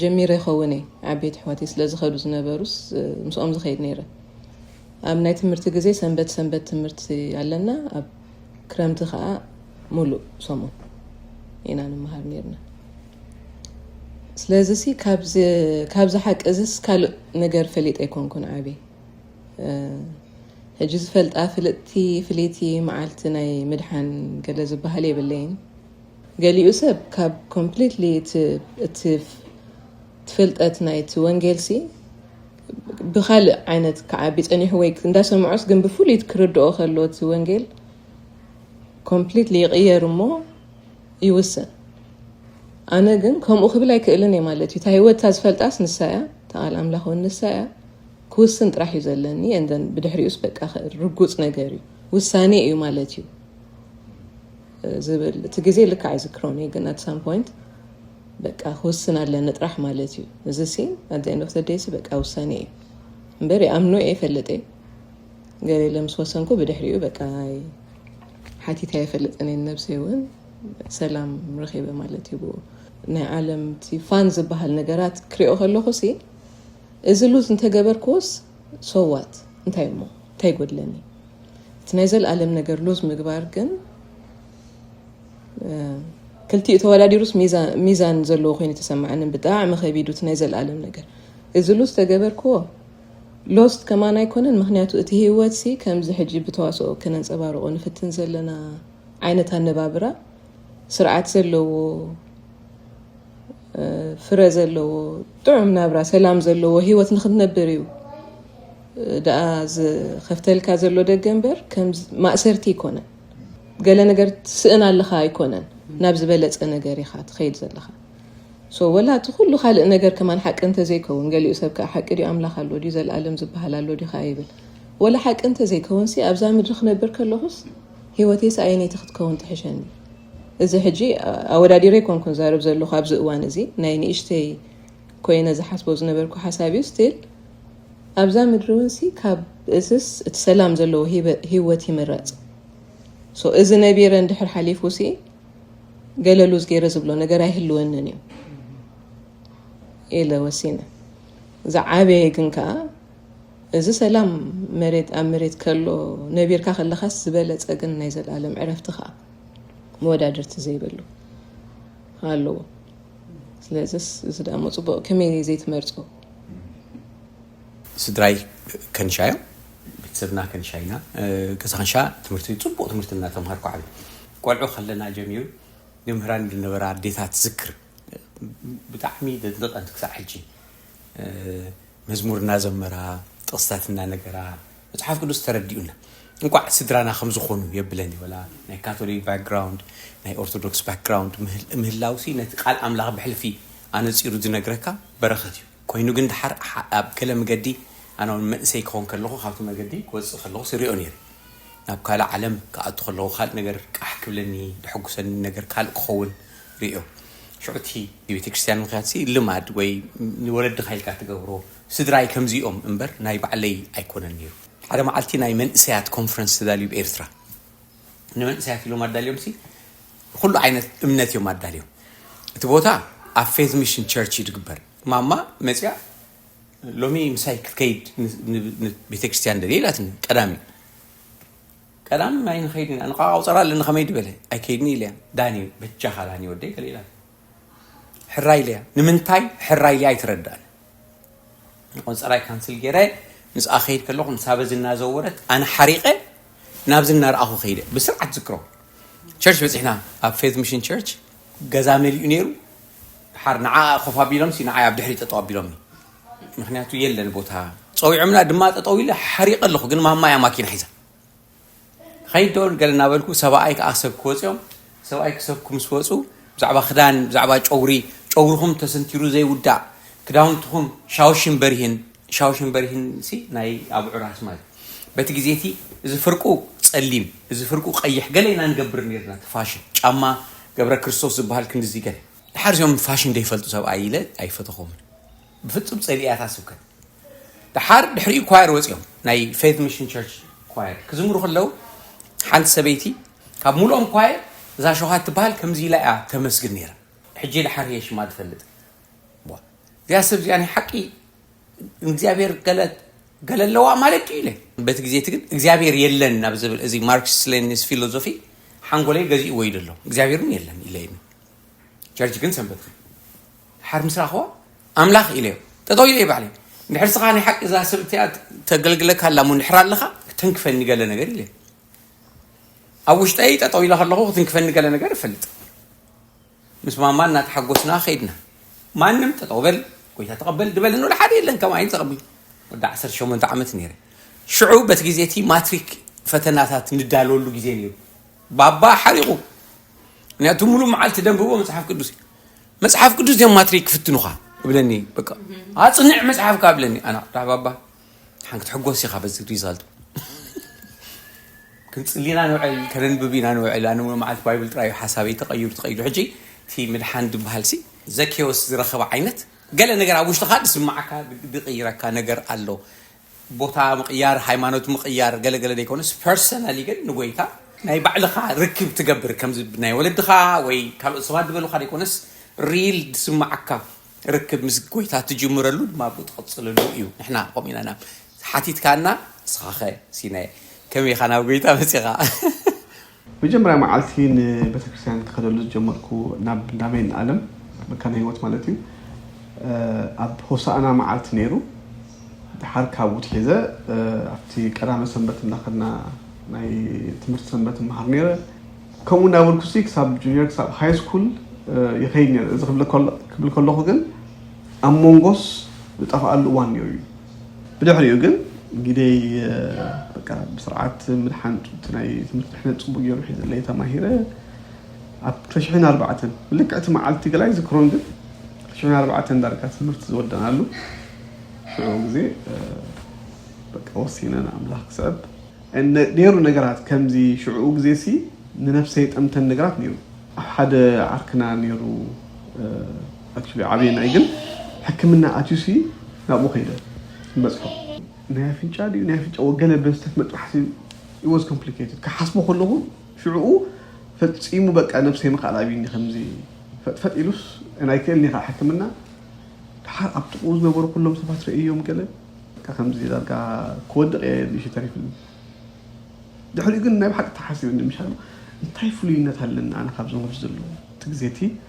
ጀሚረ ይኸውን እየ ዓበይቲ ኣሕዋተይ ስለ ዝኸዱ ዝነበሩስ ምስኦም ዝኸይድ ነይረ ኣብ ናይ ትምህርቲ ግዜ ሰንበት ሰንበት ትምህርቲ ኣለና ኣብ ክረምቲ ከዓ ሙሉእ ሰሙን ኢና ንመሃር ነርና ስለዚ ሲ ካብዚ ሓቂ እዚስ ካልእ ነገር ፈሊጠ ኣይኮንኩን ዓብ ሕጂ ዝፈልጣ ፍልጥቲ ፍልይቲ መዓልቲ ናይ ምድሓን ገለ ዝበሃል የብለይን ገሊኡ ሰብ ካብ ኮምፕሊትሊ እቲ ፍልጠት ናይቲ ወንጌልሲ ብካልእ ዓይነት ክዓቢ ጸኒሑ ወይ እንዳሰምዖስ ግን ብፍሉይት ክርድኦ ከሎ እቲ ወንጌል ኮምፕሊትሊ ይቕየር እሞ ይውስን ኣነ ግን ከምኡ ክብል ኣይክእልን እየ ማለት እዩ እታ ህይወት እታ ዝፈልጣስ ንሳ እያ ተቓል ኣምላኽ እውን ንሳ እያ ክውስን ጥራሕ እዩ ዘለኒ እንደን ብድሕሪኡስ በቃ ርጉፅ ነገር እዩ ውሳኔ እዩ ማለት እዩ ዝብል እቲ ግዜ ልካ ኣይዝክሮን እዩ ግን ኣት ሳም ፖይንት በቃ ክውስን ኣለኒ ጥራሕ ማለት እዩ እዚ ሲ ኣት ኤንድ ኦፍ ደይሲ በቃ ውሳኔ እዩ እምበር ይኣምኖ እየ ይፈልጥ እየ ገለ ኢለ ምስ ወሰንኩ ብድሕሪኡ በቃ ሓቲታ የፈልጥን እየ ነብሰይ እውን ሰላም ረኺበ ማለት እዩ ብኡ ናይ ዓለም እቲ ፋን ዝበሃል ነገራት ክሪኦ ከለኹ ሲ እዚ ሉዝ እንተገበርክዎስ ሰዋት እንታይ እሞ እንታይ ጎድለኒ እቲ ናይ ዘልኣለም ነገር ሉዝ ምግባር ግን ክልቲኡ ተወዳዲሩስ ሚዛን ዘለዎ ኮይኑ ተሰማዕኒ ብጣዕሚ ከቢዱ እቲ ናይ ዘልኣለም ነገር እዚ ሉዝ ተገበርክዎ ሎስት ከማን ኣይኮነን ምክንያቱ እቲ ህይወት ሲ ከምዚ ሕጂ ብተዋስኦ ከነንፀባርቆ ንፍትን ዘለና ዓይነት ኣነባብራ ስርዓት ዘለዎ ፍረ ዘለዎ ጥዑም ናብራ ሰላም ዘለዎ ሂወት ንክትነብር እዩ ደኣ ዝኸፍተልካ ዘሎ ደገ እምበር ከም ማእሰርቲ ኣይኮነን ገለ ነገር ትስእን ኣለኻ ኣይኮነን ናብ ዝበለፀ ነገር ኢኻ ትኸይድ ዘለኻ ሶ ወላ እቲ ኩሉ ካልእ ነገር ከማን ሓቂ እንተዘይከውን ገሊኡ ሰብ ከዓ ሓቂ ድዩ ኣምላኽ ኣሎ ድዩ ዘለኣለም ዝበሃል ኣሎ ድዩ ከዓ ይብል ወላ ሓቂ እንተዘይከውንሲ ኣብዛ ምድሪ ክነብር ከለኹስ ሂወተይስ ኣየነይቲ ክትከውን ትሕሸኒ እዚ ሕጂ ኣወዳዲረ ኣይኮንኩን ዝዛረብ ዘለኹ ኣብዚ እዋን እዚ ናይ ንእሽተይ ኮይነ ዝሓስቦ ዝነበርኩ ሓሳብ እዩ ስቲል ኣብዛ ምድሪ እውን ሲ ካብ እዝስ እቲ ሰላም ዘለዎ ህይወት ይምረፅ ሶ እዚ ነቢረ እንድሕር ሓሊፉ ሲ ገለሉዝ ገይረ ዝብሎ ነገር ኣይህልወንን እዩ ኢለ ወሲነ ዝዓበየ ግን ከዓ እዚ ሰላም መሬት ኣብ መሬት ከሎ ነቢርካ ከለኻስ ዝበለፀ ግን ናይ ዘለኣለም ዕረፍቲ ከዓ መወዳድርቲ ዘይብሉ ኣለዎ ስለዚ እዚ ደሞ ፅቡቅ ከመይ ዘይትመርፆ ስድራይ ከንሻ እዮም ቤተሰብና ከንሻ ኢና ገዛ ከንሻ ትምህርቲ ፅቡቅ ትምህርቲ እናተምሃርኩ ዓብ ቆልዑ ከለና ጀሚሩ ንምህራን ዝነበራ ኣዴታት ዝክር ብጣዕሚ ደድንቀን ክሳዕ ሕጂ መዝሙር እናዘመራ ጥቕስታት እናነገራ መጽሓፍ ቅዱስ ተረዲኡና እንኳዕ ስድራና ከም ዝኾኑ የብለን ይበላ ናይ ካቶሊክ ባክግራውንድ ናይ ኦርቶዶክስ ባክግራውንድ ምህላውሲ ነቲ ቃል ኣምላኽ ብሕልፊ ኣነፂሩ ዝነግረካ በረኸት እዩ ኮይኑ ግን ድሓር ኣብ ገለ መገዲ ኣነ እውን መንእሰይ ክኸውን ከለኹ ካብቲ መገዲ ክወፅእ ከለኹ ስሪኦ ነይረ ናብ ካልእ ዓለም ክኣቱ ከለኹ ካልእ ነገር ቃሕ ክብለኒ ድሕጉሰኒ ነገር ካልእ ክኸውን ርእዮ ሽዑ እቲ ንቤተክርስትያን ምክያድሲ ልማድ ወይ ንወለድኻ ኢልካ ትገብሮ ስድራይ ከምዚኦም እምበር ናይ ባዕለይ ኣይኮነን ነይሩ ሓደ መዓልቲ ናይ መንእሰያት ኮንፈረንስ ተዳልዩ ብ ኤርትራ ንመንእሰያት ኢሎም ኣዳልዮምሲ ኩሉ ዓይነት እምነት እዮም ኣዳልዮም እቲ ቦታ ኣብ ፌዝ ሚሽን ቸርች እዩ ዝግበር ማማ መፅያ ሎሚ ምሳይ ክትከይድ ቤተክርስትያን ደልየ ኢላትኒ ቀዳሚ ቀዳም ናይ ንኸይድ ኢና ንቓቓው ፀራ ኣለኒ ከመይ ድበለ ኣይከይድኒ ኢለያ ዳኒ በጃኻ ዳኒ ወደይ ገለ ኢላ ሕራይ ኢለያ ንምንታይ ሕራይ ኢለያ ኣይትረዳእን ቆንፀራይ ካንስል ገይረ ምስኣ ከይድ ከለኹ ንሳበ ዝናዘወረት ኣነ ሓሪቐ ናብዚ እናርኣኹ ከይደ ብስርዓት ዝክሮ ቸርች በፂሕና ኣብ ፌዝ ሚሽን ቸርች ገዛ መሊኡ ነይሩ ሓር ንዓ ኮፍ ኣቢሎምሲ ንዓይ ኣብ ድሕሪ ጠጠው ኣቢሎምኒ ምክንያቱ የለን ቦታ ፀዊዖምና ድማ ጠጠው ኢለ ሓሪቀ ኣለኹ ግን ማማ እያ ማኪና ሒዛ ከይድ ዶ ገለ እናበልኩ ሰብኣይ ከዓ ሰብ ክወፅኦም ሰብኣይ ክሰብኩ ምስ ወፁ ብዛዕባ ክዳን ብዛዕባ ጨውሪ ጨውርኹም ተሰንቲሩ ዘይውዳእ ክዳውንትኹም ሻውሽን በርሂን ሻውሽን በርሂን ሲ ናይ ኣብ ዑራስ ማለት በቲ ግዜ እቲ እዚ ፍርቁ ፀሊም እዚ ፍርቁ ቀይሕ ገለ ኢና ንገብር ነርና እቲ ፋሽን ጫማ ገብረ ክርስቶስ ዝበሃል ክንድዚ ገለ ድሓር እዚኦም ፋሽን ዘይፈልጡ ሰብኣይ ኢለ ኣይፈተኹምን ብፍጹም ጸሊኣ እታ ስብከት ድሓር ድሕሪኡ ኳየር ወጺኦም ናይ ፌት ሚሽን ቸርች ኳየር ክዝምሩ ከለው ሓንቲ ሰበይቲ ካብ ሙሉኦም ኳየር እዛ ሸውሃት ትበሃል ከምዚ ኢላ እያ ተመስግን ነይራ ሕጂ ድሓር እየ ሽማ ዝፈልጥ እዚኣ ሰብ እዚኣ ናይ ሓቂ እግዚኣብሔር ገለ ኣለዋ ማለት እዩ ኢለ በቲ ግዜ እቲ ግን እግዚኣብሔር የለን ናብ ዝብል እዚ ማርክስ ሌኒስ ፊሎዞፊ ሓንጎለይ ገዚእዎ እዩ ዘሎ እግዚኣብሔር እውን የለን ኢለ ጀርጅ ግን ሰንበትኺ ድሓር ምስ ረኣኽዋ ኣምላኽ ኢለዮ ጠጠው ኢለየ ባዕለይ እንድሕር ስኻ ናይ ሓቂ እዛ ሰብ እቲኣ ተገልግለካ ኣላ እሞ እንድሕር ኣለኻ ክትንክፈኒ ገለ ነገር ኢለየ ኣብ ውሽጠይ ጠጠው ኢለ ከለኹ ክትንክፈኒ ገለ ነገር እፈልጥ ምስ ማማ እናተሓጎስና ከይድና ማንም ጠጠው በል ጎይታ ተቐበል ድበል ንወደ ሓደ የለን ከም ዓይን ዘቐብል ወደ 18 ዓመት ነይረ ሽዑ በቲ ግዜ እቲ ማትሪክ ፈተናታት ንዳለወሉ ግዜ ነይሩ ባባ ሓሪቑ ምክንያቱ ሙሉእ መዓልቲ ደንብቦ መፅሓፍ ቅዱስ እዩ መፅሓፍ ቅዱስ እዮም ማትሪክ ክፍትኑኻ እብለኒ በቃ ኣፅንዕ መፅሓፍካ እብለኒ ኣና ዳዕባባ ሓን ክትሕጎስ ኢኻ በዚ ሪዛልት ክንፅሊና ንውዕል ከነንብብ ኢና ንውዕል ኣነ ሙሉ መዓልቲ ባይብል ጥራይ እዩ ሓሳበይ ተቐይሩ ተቐይሩ ሕጂ እቲ ምድሓን ዝበሃል ሲ ዘኬዎስ ዝረኸበ ዓይነት ገለ ነገር ኣብ ውሽጥኻ ዝስማዓካ ዝቕይረካ ነገር ኣሎ ቦታ ምቕያር ሃይማኖት ምቕያር ገለ ገለ ዘይኮነስ ፐርሰናሊ ግን ንጎይታ ናይ ባዕልኻ ርክብ ትገብር ከምዚ ናይ ወለድኻ ወይ ካልኦት ሰባት ዝበሉኻ ዘይኮነስ ሪል ዝስማዓካ ርክብ ምስ ጎይታ ትጅምረሉ ድማ ኣብኡ ትቕፅለሉ እዩ ንሕና ከምኡ ኢና ናብ ሓቲትካና ንስኻኸ ሲናየ ከመይኻ ናብ ጎይታ መፂኻ መጀመርያ መዓልቲ ንቤተክርስትያን ክኸደሉ ዝጀመርኩ ናብ እንዳ መይንኣለም መካነ ህይወት ማለት እዩ ኣብ ሆሳእና መዓልቲ ነይሩ ደሓር ካብኡ ትሒዘ ኣብቲ ቀዳመ ሰንበት እንዳኸድና ናይ ትምህርቲ ሰንበት እመሃር ነይረ ከምኡ እንዳበልኩሲ ክሳብ ጁኒየር ክሳብ ሃይ ስኩል ይኸይድ ነይረ እዚ ክብል ከለኹ ግን ኣብ ሞንጎስ ዝጠፍኣሉ እዋን ነይሩ እዩ ብድሕሪኡ ግን ግደይ በቃ ብስርዓት ምድሓን ጡብቲ ናይ ትምህርቲ ድሕነት ጽቡቕ ገይሩ ሒዝለይ ተማሂረ ኣብ ክልተ ኣርባዕተን ልክዕ እቲ መዓልቲ ገላይ ዝክሮን ግን ክልተ ኣርባዕተን ዳርጋ ትምህርቲ ዝወደናሉ ሽዑ ግዜ በቃ ወሲነ ንኣምላኽ ክስዕብ ነይሩ ነገራት ከምዚ ሽዑኡ ግዜ ሲ ንነፍሰይ ጠምተን ነገራት ነይሩ ኣብ ሓደ ዓርክና ነይሩ ኣክቹሊ ዓብየ ናይ ግን ሕክምና ኣትዩሲ ናብኡ ከይደ ንበፅሖ። ናይ ኣፍንጫ ድዩ ናይ ኣፍንጫ ወገለ በስተት መጥባሕቲ it was complicated ክሓስቦ ከለኹ ሽዑኡ ፈፂሙ በቃ ነብሰይ ምኽኣል ኣብይኒ ከምዚ ፈጥፈጥ ኢሉስ and ኣይክእልን'የ ከዓ ሕክምና ደሓር ኣብ ጥቕኡ ዝነበሩ ኩሎም ሰባት ርእየዮም ገለ በቃ ከምዚ ዳርጋ ክወድቕ እየ ንእሽተይ ተሪፉኒ ድሕሪኡ ግን ናይ ብሓቂ ተሓሲበኒ ምሻሉ እንታይ ፍሉይነት ኣለኒ ኣነ ካብዞም ኣብዚ ዘለዉ እቲ ግዜ እቲ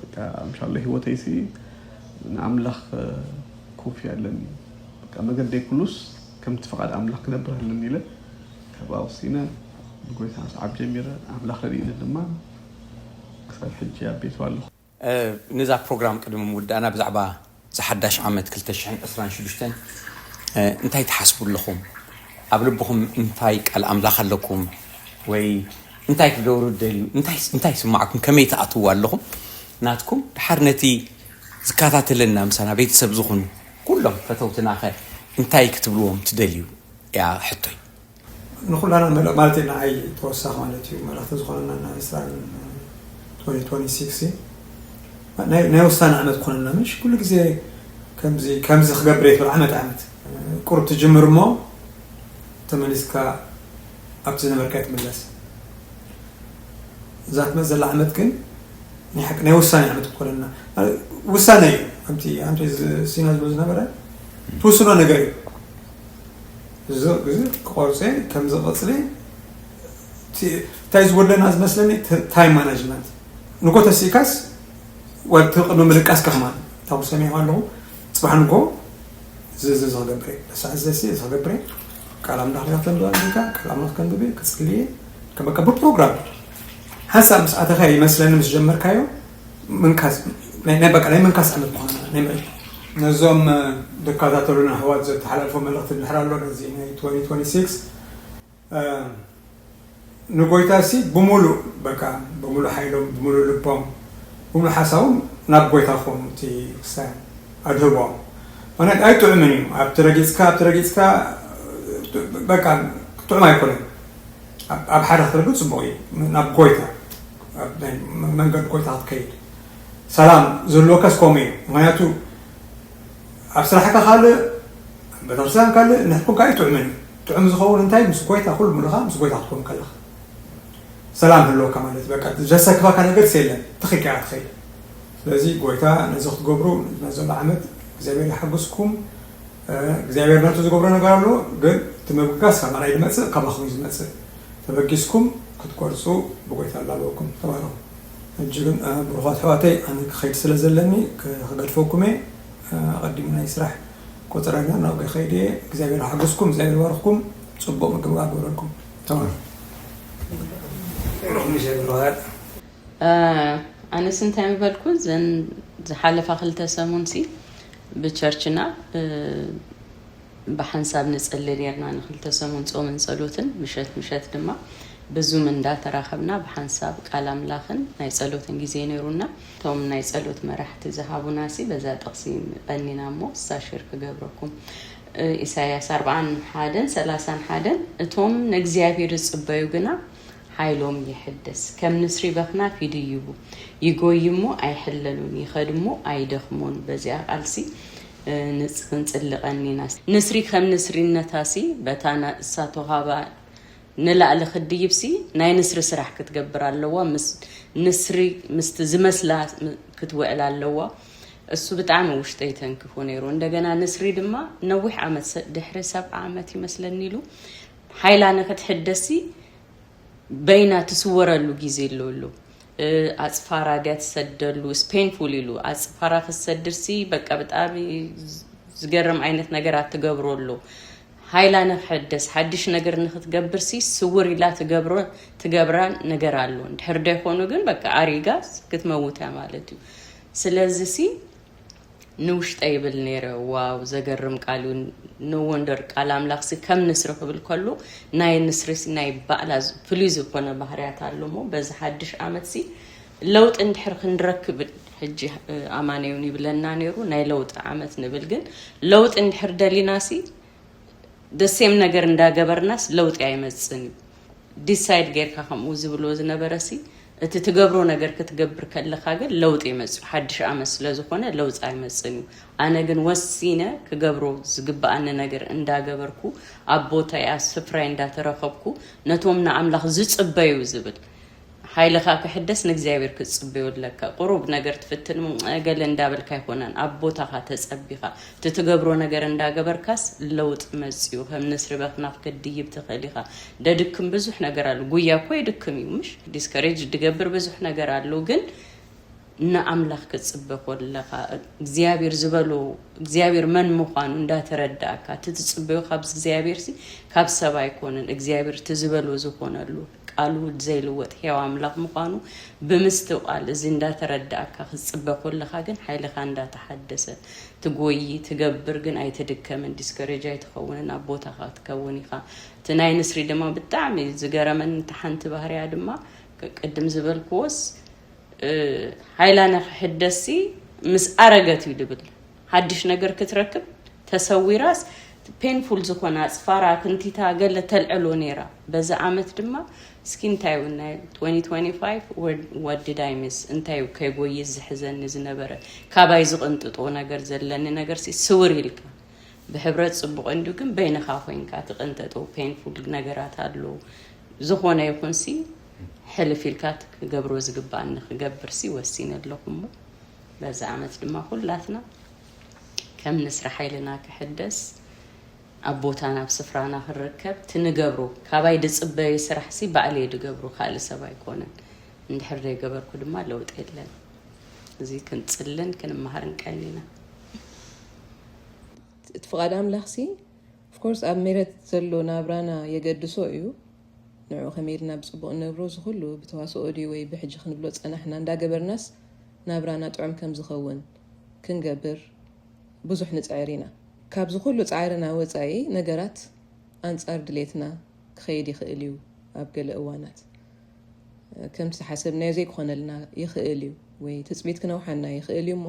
በቃ እንሻላ ሂወተይሲ ንኣምላኽ ኮፍያ ኣለኒ በቃ መገደይ ኩሉስ ከምቲ ፍቃድ ኣምላኽ ክነብር ኣለኒ ኢለ ካብኣ ወሲነ ንጎይታ ምስዓብ ጀሚረ ኣምላኽ ረዲእኒ ድማ ክሳብ ሕጂ ኣብ ቤቱ ኣለኹ። ንዛ ፕሮግራም ቅድሚ ምውዳእና ብዛዕባ ዝሓዳሽ ዓመት ክልተ ሽሕን ዕስራን ሽዱሽተን እንታይ ትሓስቡ ኣለኹም? ኣብ ልብኹም እንታይ ቃል ኣምላኽ ኣለኩም? ወይ እንታይ ክትገብሩ ትደልዩ? እንታይስ እንታይ ይስማዕኩም? ከመይ ትኣትውዎ ኣለኹም? ናትኩም ድሓር ነቲ ዝከታተለና ምሳና ቤተሰብ ዝኹኑ ኩሎም ፈተውትናኸ እንታይ ክትብልዎም ትደልዩ? እያ ሕቶይ። ንኹላና መለ ማለት እዩ ንዓይ ተወሳኺ ማለት እዩ መለኽቲ ዝኾነና እና ምስራን 2026 ናይ ናይ ውሳነ ዓመት ኮነና ምሽ ኩሉ ግዜ ከምዚ ከምዚ ክገብር እየ ትብል ዓመት ዓመት ቁሩብ ትጅምር እሞ ተመሊስካ ኣብቲ ዝነበርካ ትምለስ እዛ ትመፅ ዘላ ዓመት ግን ናይ ሓቂ ናይ ውሳኔ ዓመት ክኮነና ውሳነ እዩ ከምቲ ኣንቶ ሲና ዝብሎ ዝነበረ ትውስኖ ነገር እዩ ብዙሕ ግዜ ክቆርጽ እየ ከምዚ ቀጽሊ እንታይ ዝጎድለና ዝመስለኒ ታይም ማናጅመንት ንጎ ተሲእካስ ወድቲ ቅድሚ ምልቃስ ከማን ታብ ሰሚዑ ኣለኹ ፅባሕ ንጎ ዝዚ ዝክገብረ ሳዕ ዘሲ ዝክገብረ ቃል ኣምላኽ ዲካ ተንብባ ዲካ ቃል ኣምላኽ ከንብብ ክፅልየ ከመቀብር ፕሮግራም ሓሳብ ምስ ኣተኸ ይመስለኒ ምስ ጀመርካዮ ምንካስ ናይ ናይ በቃ ናይ ምንካስ ዓመት ምዃኑ ናይ ምዕድ ነዞም ዝከታተሉና ኣሕዋት ዘተሓላልፎ መልእኽቲ ድሕር ኣሎ ነዚ ናይ 2026 ንጎይታ ሲ ብምሉእ በቃ ብምሉእ ሓይሎም ብምሉእ ልቦም ብምሉእ ሓሳቦም ናብ ጎይታ ክኾኑ እቲ ክስታይ ኣድህቦም ማለት ኣይጥዑምን እዩ ኣብቲ ረጊፅካ ኣብቲ ረጊፅካ በቃ ጥዑም ኣይኮነን ኣብ ሓደ ክትረግፅ ፅቡቕ እዩ ናብ ጎይታ ናይ መንገዲ ጎይታ ክትከይድ ሰላም ዝህልወካስ ከምኡ እዩ ምክንያቱ ኣብ ስራሕካ ካልእ ቤተክርስትያን ካልእ ንሕኩም ካልእ ጥዑምን እዩ ጥዑም ዝኸውን እንታይ ምስ ጎይታ ኩሉ ምሉኻ ምስ ጎይታ ክትከውን ከለኻ ሰላም ህልወካ ማለት እዩ በቃ ዘሰክፈካ ነገርስ የለን ትኺካ እያ ትኸይድ ስለዚ ጎይታ ነዚ ክትገብሩ ነዘሎ ዓመት እግዚኣብሔር ይሓግዝኩም እግዚኣብሔር ናቱ ዝገብሮ ነገር ኣሎ ግን እቲ ምብጋስ ካብ ኣናይ ዝመፅእ ካባኹም እዩ ዝመፅእ ተበጊስኩም ክትቆርፁ ብጎይታ ኣላበኩም ተባረኹ ሕጂ ግን ብሩኻት ኣሕዋተይ ኣነ ክኸይድ ስለ ዘለኒ ክገድፈኩም እየ ኣቐዲሙ ናይ ስራሕ ቆፅረኛ ናብ ገኸይድ እየ እግዚኣብሔር ሓገዝኩም እግዚኣብሔር ባርኽኩም ፅቡቅ ምግብ ኣገብረልኩም ተባረኹ ኣነስ እንታይ ምበልኩ ዘን ዝሓለፋ ክልተ ሰሙን ሲ ብቸርችና ብሓንሳብ ንጽሊ ኔርና ንክልተ ሰሙን ጾምን ጸሎትን ምሸት ምሸት ድማ ብዙም እንዳተራኸብና ብሓንሳብ ቃል ኣምላኽን ናይ ጸሎትን ግዜ ነይሩና እቶም ናይ ጸሎት መራሕቲ ዝሃቡና ሲ በዛ ጥቕሲ ቀኒና እሞ ሳሽር ክገብረኩም ኢሳያስ ኣርብዓን ሓደን ሰላሳን ሓደን እቶም ንእግዚኣብሔር ዝጽበዩ ግና ሓይሎም የሕድስ ከም ንስሪ በኽናፍ ይድይቡ ይጎዩ እሞ ኣይሕለሉን ይኸድ እሞ ኣይደኽሞን በዚኣ ቃልሲ ክንጽሊ ቀኒና ንስሪ ከም ንስሪነታሲ በታ ናእሳ ተውሃባ ንላእሊ ክትድይብሲ ናይ ንስሪ ስራሕ ክትገብር ኣለዋ ምስ ንስሪ ምስቲ ዝመስላ ክትውዕል ኣለዋ እሱ ብጣዕሚ ውሽጠይ ተንክፉ ነይሩ እንደገና ንስሪ ድማ ነዊሕ ዓመት ድሕሪ ሰብዓ ዓመት ይመስለኒ ኢሉ ሓይላ ንክትሕደስሲ በይና ትስወረሉ ግዜ ኣሎ እሉ ኣፅፋራ ድያ ትሰደሉ ስፔንፉል ኢሉ ኣፅፋራ ክትሰድርሲ በቃ ብጣዕሚ ዝገርም ዓይነት ነገራት ትገብሮ ኣሎ ሃይላ ንክሕደስ ሓድሽ ነገር ንክትገብርሲ ስውር ኢላ ትገብሮ ትገብራ ነገር ኣሎ እንድሕር ደይኮኑ ግን በቃ ኣሪጋ ክትመውት እያ ማለት እዩ ስለዚ ሲ ንውሽጠይ ይብል ነይረ ዋው ዘገርም ቃል እዩ ኖ ወንደር ቃል ኣምላኽሲ ከም ንስሪ ክብል ከሎ ናይ ንስሪሲ ናይ ባዕላ ፍሉይ ዝኾነ ባህርያት ኣሎሞ በዚ ሓድሽ ዓመትሲ ለውጢ እንድሕር ክንረክብ ሕጂ ኣማነዩን ይብለና ነይሩ ናይ ለውጢ ዓመት ንብል ግን ለውጢ እንድሕር ደሊናሲ ደሴም ነገር እንዳገበርናስ ለውጢ ኣይመጽን እዩ ዲሳይድ ጌርካ ከምኡ ዝብልዎ ዝነበረሲ እቲ ትገብሮ ነገር ክትገብር ከለካ ግን ለውጢ ይመጽእ ሓድሽ ኣመት ስለ ዝኮነ ለውጢ ኣይመጽን እዩ ኣነ ግን ወሲነ ክገብሮ ዝግብኣኒ ነገር እንዳገበርኩ ኣብ ቦታይ ኣብ ስፍራይ እንዳተረከብኩ ነቶም ንኣምላኽ ዝጽበዩ ዝብል ሓይልኻ ክሕደስ ንእግዚኣብሔር ክትጽበዮ ኣለካ ቁሩብ ነገር ትፍትን እም ገለ እንዳበልካ ኣይኮነን ኣብ ቦታኻ ተጸቢኻ እቲ ትገብሮ ነገር እንዳገበርካስ ለውጢ መጽዩ ከም ንስሪ በክናኽ ክትድይብ ትኽእል ኢኻ ደድክም ብዙሕ ነገር ኣሉ ጉያ እኮ የድክም እዩ ምሽ ዲስከሬጅ ድገብር ብዙሕ ነገር ኣሉ ግን ንኣምላኽ ክትጽበ ኮለኻ እግዚኣብሔር ዝበሎ እግዚኣብሔር መን ምዃኑ እንዳተረዳእካ እቲ ትጽበዮ ካብ እግዚኣብሔርሲ ካብ ሰብ ኣይኮነን እግዚኣብሔር እቲ ዝበሎ ዝኾነሉ ቃል ውድ ዘይልወጥ ሕያው ኣምላኽ ምዃኑ ብምስትውዓል እዚ እንዳተረዳእካ ክትጽበ ኮለኻ ግን ሓይልኻ እንዳተሓደሰ ትጎዪ ትገብር ግን ኣይትድከምን ዲስከሬጅ ኣይትኸውንን ኣብ ቦታኻ ትከውን ኢኻ እቲ ናይ ንስሪ ድማ ብጣዕሚ ዝገረመኒ እታ ሓንቲ ባህርያ ድማ ቅድም ዝበልክዎስ ሓይላ ንክሕደስሲ ምስ ኣረገት እዩ ድብል ሓድሽ ነገር ክትረክብ ተሰዊራስ ፔንፉል ዝኾነ ኣጽፋራ ክንቲታ ገለ ተልዕሎ ነይራ በዚ ኣመት ድማ እስኪ እንታይ ውን ናይ 2025 ዋት ዲድ ኣይ ሚስ እንታይ ዩ ከይጎይስ ዝሕዘኒ ዝነበረ ካባይ ዝቕንጥጦ ነገር ዘለኒ ነገርሲ ስውር ኢልካ ብሕብረት ጽቡቕ እንድዩ ግን በይንኻ ኮይንካ ትቕንጠጦ ፔንፉል ነገራት ኣሎ ዝኾነ ይኹንሲ ሕልፍ ኢልካ ክገብሮ ዝግባኣኒ ክገብርሲ ወሲነ ኣለኹ እሞ በዚ ዓመት ድማ ኩላትና ከም ንስሪ ሓይልና ክሕደስ ኣብ ቦታና ኣብ ስፍራና ክንርከብ ትንገብሩ ካባይ ድፅበዩ ስራሕ ሲ ባዕለይ ድገብሩ ካልእ ሰብ ኣይኮነን እንድሕር ዘይገበርኩ ድማ ለውጢ የለን እዚ ክንፅልን ክንመሃርን ቀኒና እቲ ፍቓድ ኣምላኽ ሲ ኦፍኮርስ ኣብ ሜረት ዘሎ ናብራና የገድሶ እዩ ንዑ ከመይ ኢልና ብጽቡቕ ንነብሮ እዚ ኩሉ ብተዋስኦ ድዩ ወይ ብሕጂ ክንብሎ ጸናሕና እንዳገበርናስ ናብራና ጥዑም ከም ዝኸውን ክንገብር ብዙሕ ንጽዕር ኢና ካብዚ ኩሉ ጻዕርና ወጻኢ ነገራት ኣንጻር ድሌትና ክኸይድ ይኽእል እዩ ኣብ ገለ እዋናት ከምቲ ዝሓሰብናዮ ዘይክኾነልና ይኽእል እዩ ወይ ትጽቢት ክነውሓና ይኽእል እዩ እሞ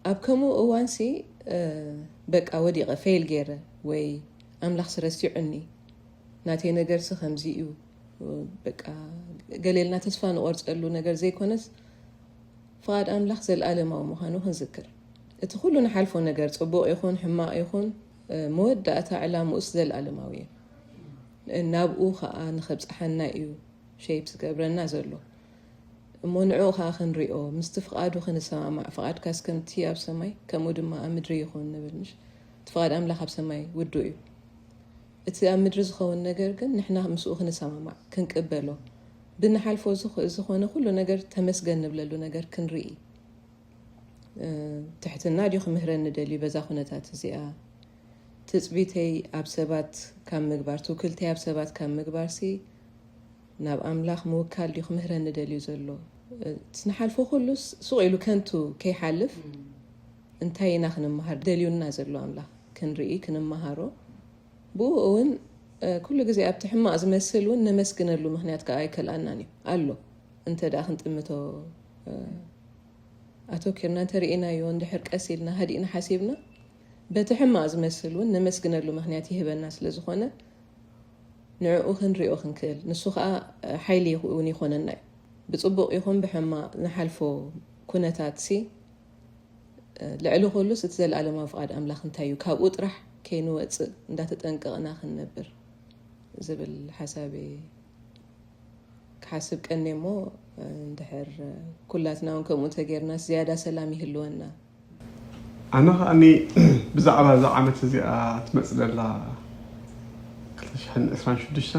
ኣብ ከምኡ እዋንሲ በቃ ወዲቐ ፌል ገይረ ወይ ኣምላኽሲ ረሲዑኒ ናተይ ነገርሲ ከምዚ እዩ በቃ ገሌልና ተስፋ ንቆርፀሉ ነገር ዘይኮነስ ፍቓድ ኣምላኽ ዘለኣለማዊ ምዃኑ ክንዝክር እቲ ኩሉ ንሓልፎ ነገር ፅቡቕ ይኹን ሕማቕ ይኹን መወዳእታ ዕላምኡስ ዘለኣለማዊ እዩ ናብኡ ከዓ ንኸብፅሓና እዩ ሸይፕ ዝገብረና ዘሎ እሞ ንዕኡ ከዓ ክንሪኦ ምስቲ ፍቓዱ ክንሰማማዕ ፍቓድካስ ከምቲ ኣብ ሰማይ ከምኡ ድማ ኣብ ምድሪ ይኹን ንብል ምሽ እቲ ፍቓድ ኣምላኽ ኣብ ሰማይ ውዱእ እዩ። እቲ ኣብ ምድሪ ዝኸውን ነገር ግን ንሕና ምስኡ ክንሰማማዕ፣ ክንቅበሎ፣ ብንሓልፎ ዝኾነ ኩሉ ነገር ተመስገን ንብለሉ ነገር ክንርኢ ትሕትና ድዩ ክምህረኒ ደልዩ በዛ ኩነታት እዚኣ ትፅቢተይ ኣብ ሰባት ካብ ምግባር ትውክልተይ ኣብ ሰባት ካብ ምግባር ሲ ናብ ኣምላኽ ምውካል ድዩ ክምህረኒ ደልዩ ዘሎ ንሓልፎ ኩሉስ ሱቕ ኢሉ ከንቱ ከይሓልፍ እንታይ ኢና ክንመሃር ደልዩና ዘሎ ኣምላኽ ክንርኢ ክንመሃሮ ብኡ እውን ኩሉ ግዜ ኣብቲ ሕማቕ ዝመስል እውን ነመስግነሉ ምክንያት ከዓ ኣይከልኣናን እዩ ኣሎ እንተ ደኣ ክንጥምቶ ኣተኪርና እንተ ርኢናዮ እንድሕር ቀስ ኢልና ሃዲእና ሓሲብና በቲ ሕማቕ ዝመስል እውን ነመስግነሉ ምክንያት ይህበና ስለ ዝኾነ ንዕኡ ክንሪኦ ክንክእል ንሱ ከዓ ሓይሊ እውን ይኾነና እዩ ብፅቡቕ ይኹን ብሕማቕ ንሓልፎ ኩነታት ሲ ልዕሊ ኩሉስ እቲ ዘለኣለማዊ ፍቓድ ኣምላኽ እንታይ እዩ ካብኡ ጥራሕ ከይንወጽእ እንዳተጠንቀቕና ክንነብር ዝብል ሓሳብ ክሓስብ ቀኔ እሞ እንድሕር ኩላትና እውን ከምኡ እንተጌርናስ ዝያዳ ሰላም ይህልወና ኣነ ከኣኒ ብዛዕባ እዛ ዓመት እዚኣ ትመፅእ ዘላ 226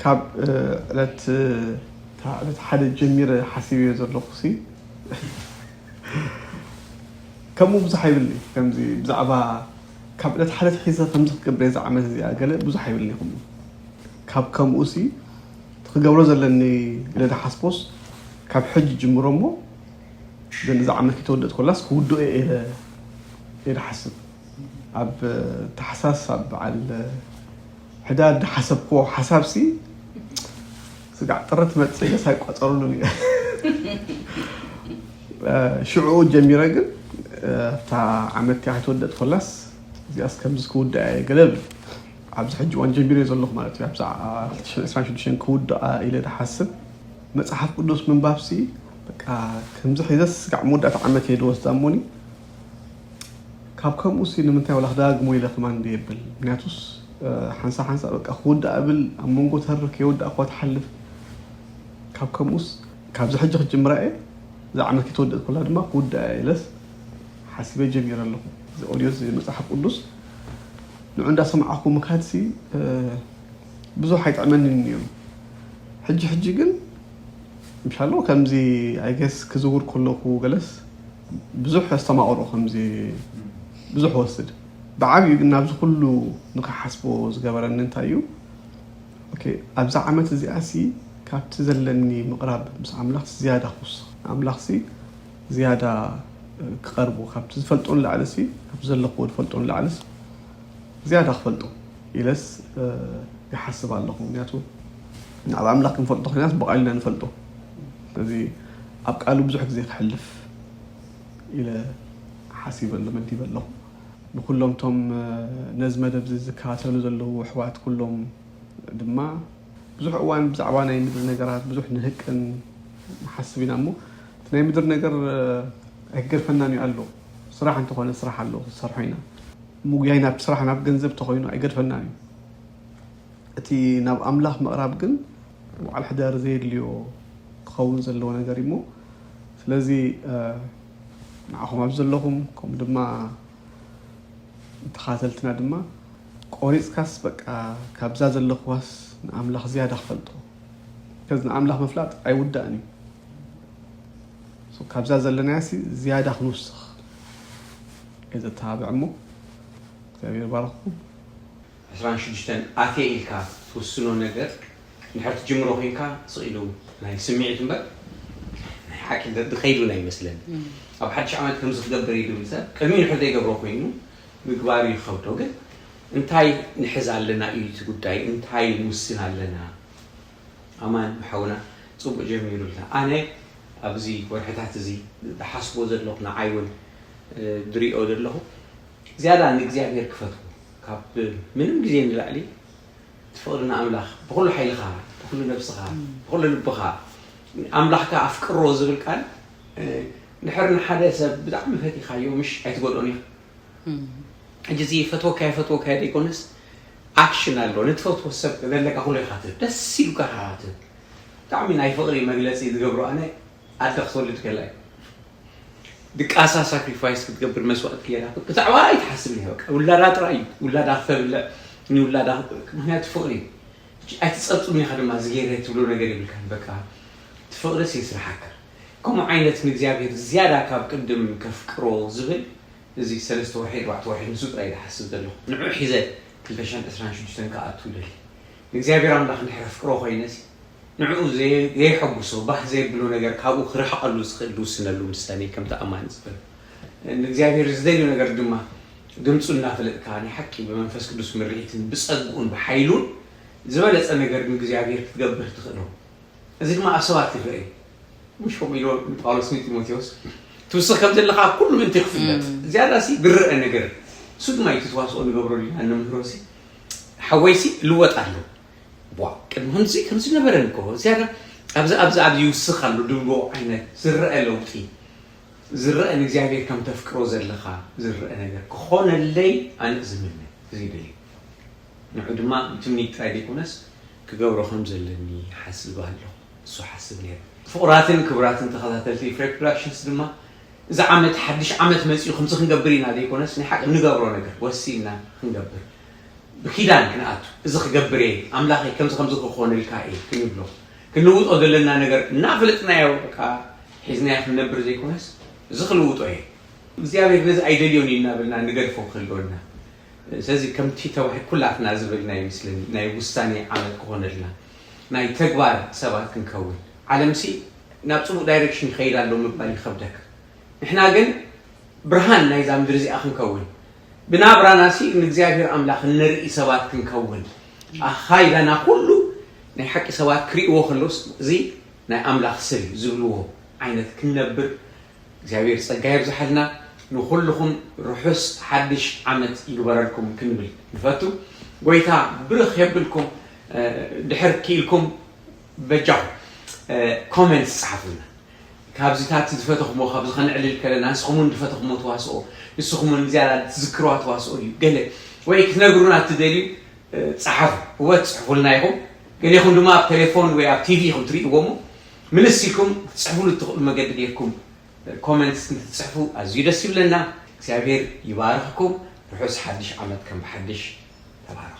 ካብ ዕለት ሓደ ጀሚረ ሓሲበዮ ዘለኹ ከምኡ ብዙሕ ኣይብልኒ ከምዚ ብዛዕባ ካብ ዕለት ሓደ ትሒዘ ከምዚ ክገብረ እዚ ዓመት እዚኣ ገለ ብዙሕ ኣይብልኒ ይኹም ካብ ከምኡ ሲ ክገብሮ ዘለኒ ኢለ ዝሓስቦስ ካብ ሕጂ ጅምሮ እሞ ዘንዚ ዓመት ክተወደእ ኮላስ ክውድኦ ኢለ ይሓስብ ኣብ ታሕሳስ ኣብ በዓል ሕዳር ዝሓሰብክዎ ሓሳብሲ ስጋዕ ጥሪ ትመፅእ ኢለስ ኣይቋፀሩሉን እየ ሽዑኡ ጀሚረ ግን ኣብታ ዓመት እቲኣ ከይተወደእት ኮላስ እዚኣስ ከምዚ ክውድኣ እየ ገለ ብል ኣብዚ ሕጂ እዋን ጀሚረ ዘለኹ ማለት እዩ ኣብዛ 2026 ክውድኣ ኢለ ዝሓስብ መፅሓፍ ቅዱስ ምንባብሲ በቃ ከምዚ ሒዘስ ስጋዕ መወዳእታ ዓመት እየ ድወስዳ እሞኒ ካብ ከምኡ ሲ ንምንታይ ወላ ክደጋግሞ ኢለ ከማን እንደ የብል ምክንያቱስ ሓንሳ ሓንሳ በቃ ክውዳእ እብል ኣብ መንጎ ተርፍ ከይወዳእ እኳ ትሓልፍ ካብ ከምኡስ ካብዚ ሕጂ ክጅምራ እየ እዛ ዓመት ከይተወደእት ኮላ ድማ ክውዳእ እየ ኢለስ ሓሲበ ጀሚረ ኣለኹ እዚ ኦድዮ እዚ መጽሓፍ ቅዱስ ንዑ እንዳሰማዕኩ ምካድሲ ብዙሕ ኣይጥዕመንን እዩ ሕጂ ሕጂ ግን ምሻሎ ከምዚ ኣይገስ ክዝውር ከለኹ ገለስ ብዙሕ ኣስተማቕሮ ከምዚ ብዙሕ ወስድ ብዓብዩ ግን ናብዚ ኩሉ ንክሓስቦ ዝገበረኒ እንታይ እዩ ኦኬ ኣብዛ ዓመት እዚኣ ሲ ካብቲ ዘለኒ ምቕራብ ምስ ኣምላኽ ዝያዳ ክውስኽ ኣምላኽ ሲ ዝያዳ ክቐርቦ ካብቲ ዝፈልጦ ንላዕሊ ሲ ካብቲ ዘለኽዎ ዝፈልጦ ንላዕልስ ዝያዳ ክፈልጦ ኢለስ ይሓስብ ኣለኹ ምክንያቱ ንዓብ ኣምላኽ ክንፈልጦ ኮይናስ ብቓሉ ኢና ንፈልጦ ስለዚ ኣብ ቃሉ ብዙሕ ግዜ ከሕልፍ ኢለ ሓሲበ ኣሎ መዲበ ኣለኹ። ንኩሎም እቶም ነዚ መደብዚ ዝከታተሉ ዘለዉ ኣሕዋት ኩሎም ድማ ብዙሕ እዋን ብዛዕባ ናይ ምድሪ ነገራት ብዙሕ ንህቅን ንሓስብ ኢና እሞ እቲ ናይ ምድሪ ነገር ኣይክገድፈናን እዩ ኣሎ ስራሕ እንተኾነ ስራሕ ኣሎ ክንሰርሖ ኢና ምጉያይ ናብ ስራሕ ናብ ገንዘብ ተኾይኑ ኣይገድፈናን እዩ እቲ ናብ ኣምላኽ ምቕራብ ግን በዓል ሕዳር ዘየድልዮ ክኸውን ዘለዎ ነገር እዩሞ ስለዚ ንዓኹም ኣብዚ ዘለኹም ከምኡ ድማ ተኻተልትና ድማ ቆሪፅካስ በቃ ካብዛ ዘለኹዋስ ንኣምላኽ ዝያዳ ክፈልጦ ከዚ ንኣምላኽ ምፍላጥ ኣይውዳእን እዩ ካብዛ ዘለናያ ሲ ዝያዳ ክንውስኽ እየ ዘተባብዕ እሞ እግዚኣብሔር ባረኽኩም ዕስራን ሽዱሽተን ኣትየ ኢልካ ትውስኖ ነገር እንድሕር ትጅምሮ ኮይንካ ስቅ ኢሉ ናይ ስምዒት እምበር ናይ ሓቂ ደርቢ ከይዱን ኣይመስለንን። ኣብ ሓድሽ ዓመት ከምዚ ክገብር እየ ዝብል ሰብ ቅድሚኡ እንድሕር ዘይገብሮ ኮይኑ ምግባሩ ይኸብዶ። ግን እንታይ ንሕዝ ኣለና እዩ እቲ ጉዳይ እንታይ ንውስን ኣለና። ኣማን ሓውና ጽቡቅ ጀሚሩልና ኣነ ኣብዚ ወርሕታት እዚ ዝሓስቦ ዘለኹ ንዓይ ውን ዝሪኦ ዘለኹ፣ ዝያዳ ንእግዚኣብሄር ክፈትዎ ካብ ምንም ግዜ ንላዕሊ ትፍቕሪ ንኣምላኽ ብኹሉ ሓይልኻ ብኹሉ ነብስኻ ብኹሉ ልብኻ ኣምላኽካ ኣፍቅሮ ዝብል ቃል ድሕር ንሓደ ሰብ ብጣዕሚ ፈቲኻዮ ምሽ ኣይትጎድኦን ኢኻ ሕጂ እዚ ፈትወካዮ ፈትወካዮ ዘይኮነስ ኣክሽን ኣሎ ንትፈትዎ ሰብ ዘለካ ኩሉ ኢኻ ትህብ ደስ ኢሉካ ኢኻ ትህብ ብጣዕሚ ናይ ፍቕሪ መግለፂ ዝገብሮ ኣነ ኣደ ክትወልድ ከላ እዩ ድቃሳ ሳክሪፋይስ ክትገብር መስዋእቲ ገይራ ብዛዕባ ኣይትሓስብ እያ በቃ ውላዳ ጥራይ እዩ ውላዳ ክተብልዕ ንውላዳ ምክንያቱ ፍቕሪ እዩ ኣይትፀብፅም ኢኻ ድማ ዝገይረ ትብሎ ነገር የብልካን በቃ እቲ ፍቕርስ የስርሓካ ከምኡ ዓይነት ንእግዚኣብሔር ዝያዳ ካብ ቅድም ከፍቅሮ ዝብል እዚ ሰለስተ ወርሒ ኣርባዕተ ወርሒ ንሱ ጥራይ ዝሓስብ ዘለኹ ንዑ ሒዘ ክልተ ሽሕን ዕስራን ሽዱሽተን ክኣቱ ደሊ ንእግዚኣብሔር ኣምላኽ እንድሕር ኣፍቅሮ ኮይነሲ ንዕኡ ዘየሐጉሶ ባህ ዘየብሎ ነገር ካብኡ ክርሕቐሉ ዝኽእል ዝውስነሉ ምስታን እየ ከምቲ ኣማኒ ዝበሎ። ንእግዚኣብሔር ዝደልዮ ነገር ድማ ድምፁ እናፈለጥካ ናይ ሓቂ ብመንፈስ ቅዱስ ምርሒትን ብፀግኡን ብሓይሉን ዝበለፀ ነገር ንእግዚኣብሔር ክትገብር ትኽእሎ። እዚ ድማ ኣብ ሰባት ይርኣ እዩ። ምሽ ከምኡ ኢሎ ንጳውሎስ ንጢሞቴዎስ ትውስኽ ከም ዘለኻ ኣብ ኩሉ ምእንቲ ክፍለጥ ዝያዳሲ ዝርኣ ነገር እሱ ድማ እዩ እቲ ተዋስኦ ንገብረሉ ኢና እንምህሮሲ ሓወይሲ ልወጥ ኣለዎ ቧ ቅድሚ ከምዚ ከምዚ ነበረ እኮ ዝያዳ ኣብዚ ኣብዚ ኣብ ይውስኽ ኣሎ ድብሎ ዓይነት ዝረአ ለውጢ ዝረአ ንእግዚኣብሔር ከም ተፍቅሮ ዘለኻ ዝረአ ነገር ክኾነለይ ኣነ ዝምነ ዝይብል እዩ ንዑ ድማ ትምኒት ጥራይ ዘይኮነስ ክገብሮ ከም ዘለኒ ሓስብ ኣለኹ እሱ ሓስብ ነይሩ ፍቑራትን ክብራትን ተኸታተልቲ ፍሬ ፕሮዳክሽንስ ድማ እዚ ዓመት ሓድሽ ዓመት መጺኡ ከምዚ ክንገብር ኢና ዘይኮነስ ናይ ሓቂ እንገብሮ ነገር ወሲንና ክንገብር ብኪዳን ክንኣቱ እዚ ክገብር እየ ኣምላኸይ ከምዚ ከምዚ ክኾነልካ እየ ክንብሎ ክንልውጦ ዘለና ነገር እናፈለጥናዮ በቃ ሒዝናዮ ክንነብር ዘይኮነስ እዚ ክልውጦ እየ እግዚኣብሔር ነዚ ኣይደልዮን እዩ እናበልና ንገድፎ ክህልወ እና ስለዚ ከምቲ ተባሂ ኩላትና ዝብልና ይመስለኒ ናይ ውሳኔ ዓመት ክኾነልና ናይ ተግባር ሰባት ክንከውን ዓለምሲ ናብ ጽቡቅ ዳይረክሽን ይኸይድ ኣሎ ምባል ይኸብደካ ንሕና ግን ብርሃን ናይዛ ምድሪ እዚኣ ክንከውን ብናብራናሲ ንእግዚኣብሄር ኣምላኽ እነርኢ ሰባት ክንከውን ኣኻ ኢላና ኩሉ ናይ ሓቂ ሰባት ክርእይዎ ከለውስ እዚ ናይ ኣምላኽ ሰብ እዩ ዝብልዎ ዓይነት ክንነብር እግዚኣብሔር ጸጋ የብዝሓልና ንኹልኹም ርሑስ ሓድሽ ዓመት ይግበረልኩም ክንብል ንፈቱ ጎይታ ብርኽ የብልኩም ድሕር ክኢልኩም በጃኹም ኮመንት ጸሓፉልና ካብዚታት ዝፈተኹሞ ካብዚ ከነዕልል ከለና ንስኹምን ዝፈተኹሞ ተዋስኦ ንስኹምን ዝያዳ ትዝክርዋ ተዋስኦ ድዩ ገለ ወይ ክትነግሩና እትደልዩ ጸሓፉ እወ ትጽሕፉልና ኢኹም ገሌኹም ድማ ኣብ ቴሌፎን ወይ ኣብ ቲቪ ኢኹም ትርእይዎ እሞ ምልስ ኢልኩም ክትጽሕፉሉ እትኽእሉ መገዲ ጌርኩም ኮመንት እንትትጽሕፉ ኣዝዩ ደስ ይብለና እግዚኣብሔር ይባርኽኩም ርሑስ ሓድሽ ዓመት ከም ብሓድሽ ተባረኹ